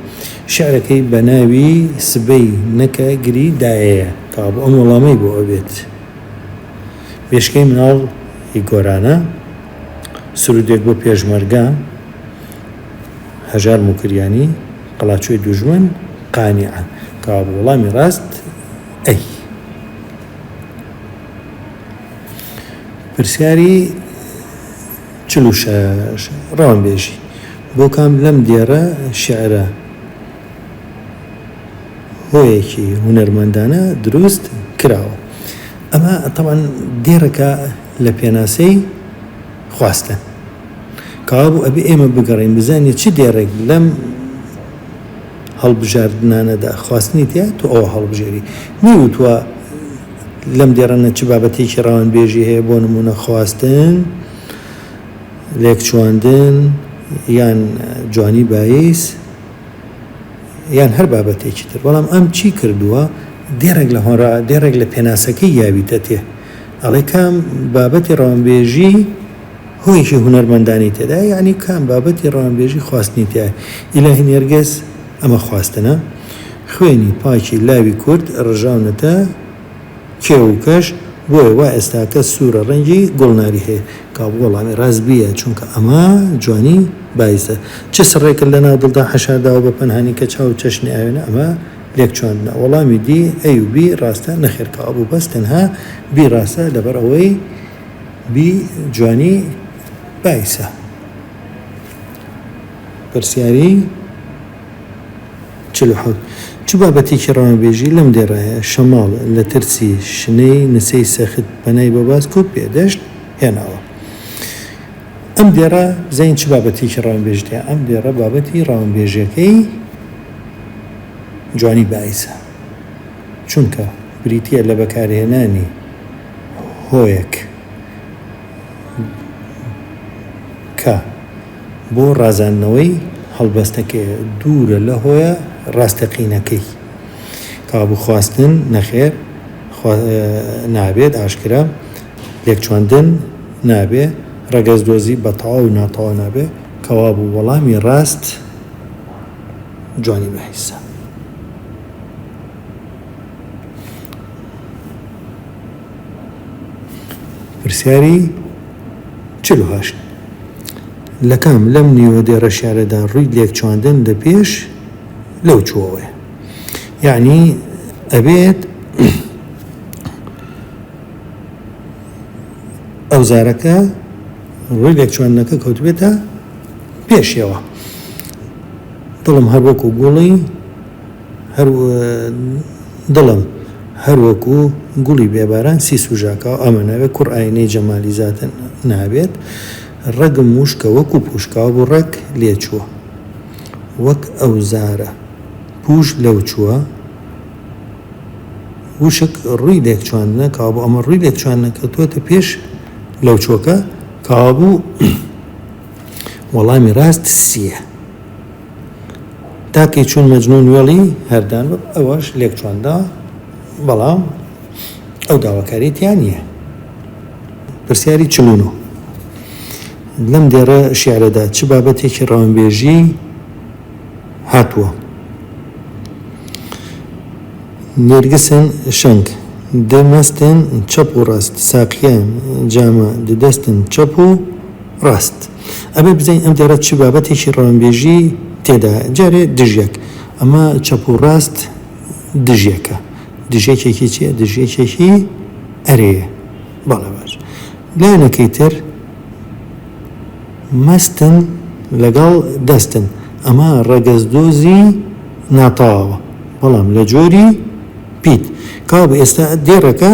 شعرەکەی بە ناوی سبەی نەکە گری دایەیە. کابو ئەم وەڵامەی بۆ ئەبێت بێشکەی مناڵ ی گۆرانە سرودێک بۆ پێشمەرگە هەژار موکریانی قەڵاچۆی دوژمن قانیعە کابو وەڵامی ڕاست ئەی پرسیاری چل و شەش، ڕەوەند بێژی بۆ کام لەم دێڕە شیعرە هۆیەکی هونەرمەندانە دروست کراوە؟ ئەمە تەبعەن دێڕەکە لە پێناسەی خواستن. کەوابوو ئەبێ ئێمە بگەڕێین بزانین چ دێڕێک لەم هەڵبژاردنانەدا خواستنی تیایە تۆ ئەوە هەڵبژێری. نەیوتوە. لەم دێڕەنە چ بابەتێکی ڕەوانبێژی هەیە بۆ نموونە خواستن، لێکچوواندن یان جوانی باییس یان هەر بابەتێکی تر بەڵام ئەم چی کردووە دێڕێک لە هۆنرا دێڕێک لە پێناسەکەی یاویتەتێ ئەڵێ کام بابەتی ڕەوانبێژی هۆیەکی هونەرمەندانەی تێدایە یانی کام بابەتی ڕەوانبێژی خواستنی تیایە ئیلاهی نێرگز ئەمە خواستنە خوێنی پاکی لاوی کورد ڕژاونەتە کێو و کەش بۆیە وا ئێستاکە سورە ڕەنگی گوڵناری هەیە کاک وەڵامی ڕاست بیە چونکە ئەمە جوانی بایزە چ سڕێکت لە ناو دڵدا حەشارداوە بە پەنهانی کە چاو چەشنی ئاوێنە ئەمە لێک چواندنە وەڵامی دی ئەی و بی ڕاستە نەخێر کاوە بوو بەس تەنها بی ڕاستە لەبەر ئەوەی بی جوانی بایسە پرسیاری چل و حەوت چ بابەتێکی ڕەوانبێژی لەم دێڕایە شەماڵ لە ترسی شنەی نسەی سەخت پەنای بۆ باز کورد بێدەشت هێناوە ئەم دێڕە بزین چ بابەتێکی ڕەوانبێژتە ئەم دێڕە بابەتی ڕەوانبێژەکەی جوانی بایسە چونکە بریتە لە بەکارهێنانی هۆیەک کە بۆ ڕازاندنەوەی هەڵبەستەکەیە دوورە لە هۆیە ڕاستەقینەکەی. کابوو خواستن نەخێر نابێت ئاشکرا لێکچواندن نابێ ڕەگەزدۆزی بە تەواو و ناتەواو نابێ کەوابوو وەڵامی ڕاست جوانی بە حیسە. پرسیاری چل و هەشت، لە کام لەم نیوە دێڕە شیعرەدا ڕووی لێکچواندن لە پێش لەو چووەوەیە؟ یەعنی ئەبێت ئەوزارەکە ڕووی لێکچواندنەکە کەوتبێتە پێشیەوە. دڵم هەر وەکوو گوڵی. دڵم هەر وەکو گوڵی بێ باران سی سوژاکاو ئەمە نابێت کوڕ ئاینەی جەمالی زاتە نابێت ڕەگم وشکە وەکو پوشکاو بوڕەک لێ چووە وەک ئەو زارە پوش لەو چووە وشک ڕووی لێک چواندنە کابوو ئەمە ڕووی لێک چواندنە کەوتووەتە پێش لەو چۆکە کابوو وەڵامی ڕاست سیە تاکەی چون مەجنون وەڵی هەردان وەک ئەوەش لێک چۆندا بەڵام ئەو داواکاری تیا نییە پرسیاری چلون و لەم دێڕە شعرەدا چ بابەتێکی ڕەوانبێژی هاتووە نێرگسن شەنگ دەمەستن چەپ و ڕاست ساقیە جامە دەدەستن چەپ و ڕاست ئەبێ بزانین ئەم دێڕە چ بابەتێکی ڕەوانبێژی تێدایە، جارێ دژیەک، ئەمە چەپ و ڕاست دژیەکە، دژیەکێکی چییە؟ دژیەکێکی ئەرێیە. بەڵێ باش. لایەنەکەی تر مەستن لەگەڵ دەستن، ئەمە ڕەگەزدۆزی ناتەواوە، بەڵام لە جۆری پیت. کاوە ئێستا دێڕەکە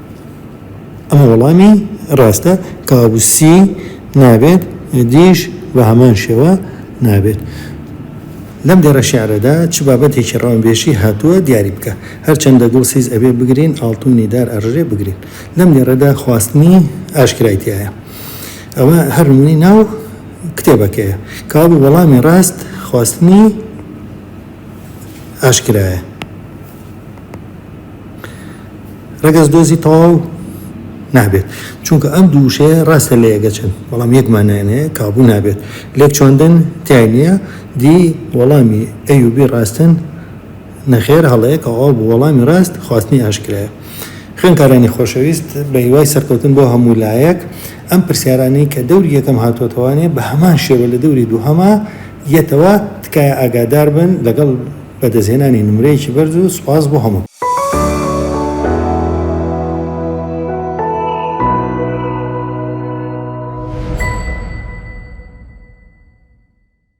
ئەمە وەڵامی ڕاستە کابوسی نابێت دیش بە هەمان شێوە نابێت. لەم دێڕە شێعرەدا چ بابەتێکی ڕەونبێشی هاتووە دیاری بکە. هەرچەندە گوڵ سیز ئەبێ بگرین ئاڵتوونی دار ئەڕژێ بگرین. لەم دێڕەدا خواستنی ئاشکرای تیایە. ئەوە هەر نموونەی ناو کتێبەکەیە. کابو وەڵامی ڕاست خواستنی ئاشکرایە. ڕەگەز دۆزی تەواو نابێت چونکە ئەم دوو وشەیە ڕاستە لە یەگەچن بەڵام یەک مانایانەیە کابوو نابێت لێک چۆندن تای نییە دی وەڵامی ئەیوبی ڕاستن نەخێر هەڵەیە کەوا بوو وەڵامی ڕاست خواستنی ئاشکرایە خوێنکارانی خۆشەویست بە هیوای سەرکەوتن بۆ هەموو لایەک ئەم پرسیارانەی کە دەوری یەکەم هاتووەتەوانێ بە هەمان شێوە لە دەوری دووهەما یەتەوە تکایە ئاگادار بن لەگەڵ بەدەستهێنانی نمرەیەکی بەرز و سوپاس بۆ هەموو.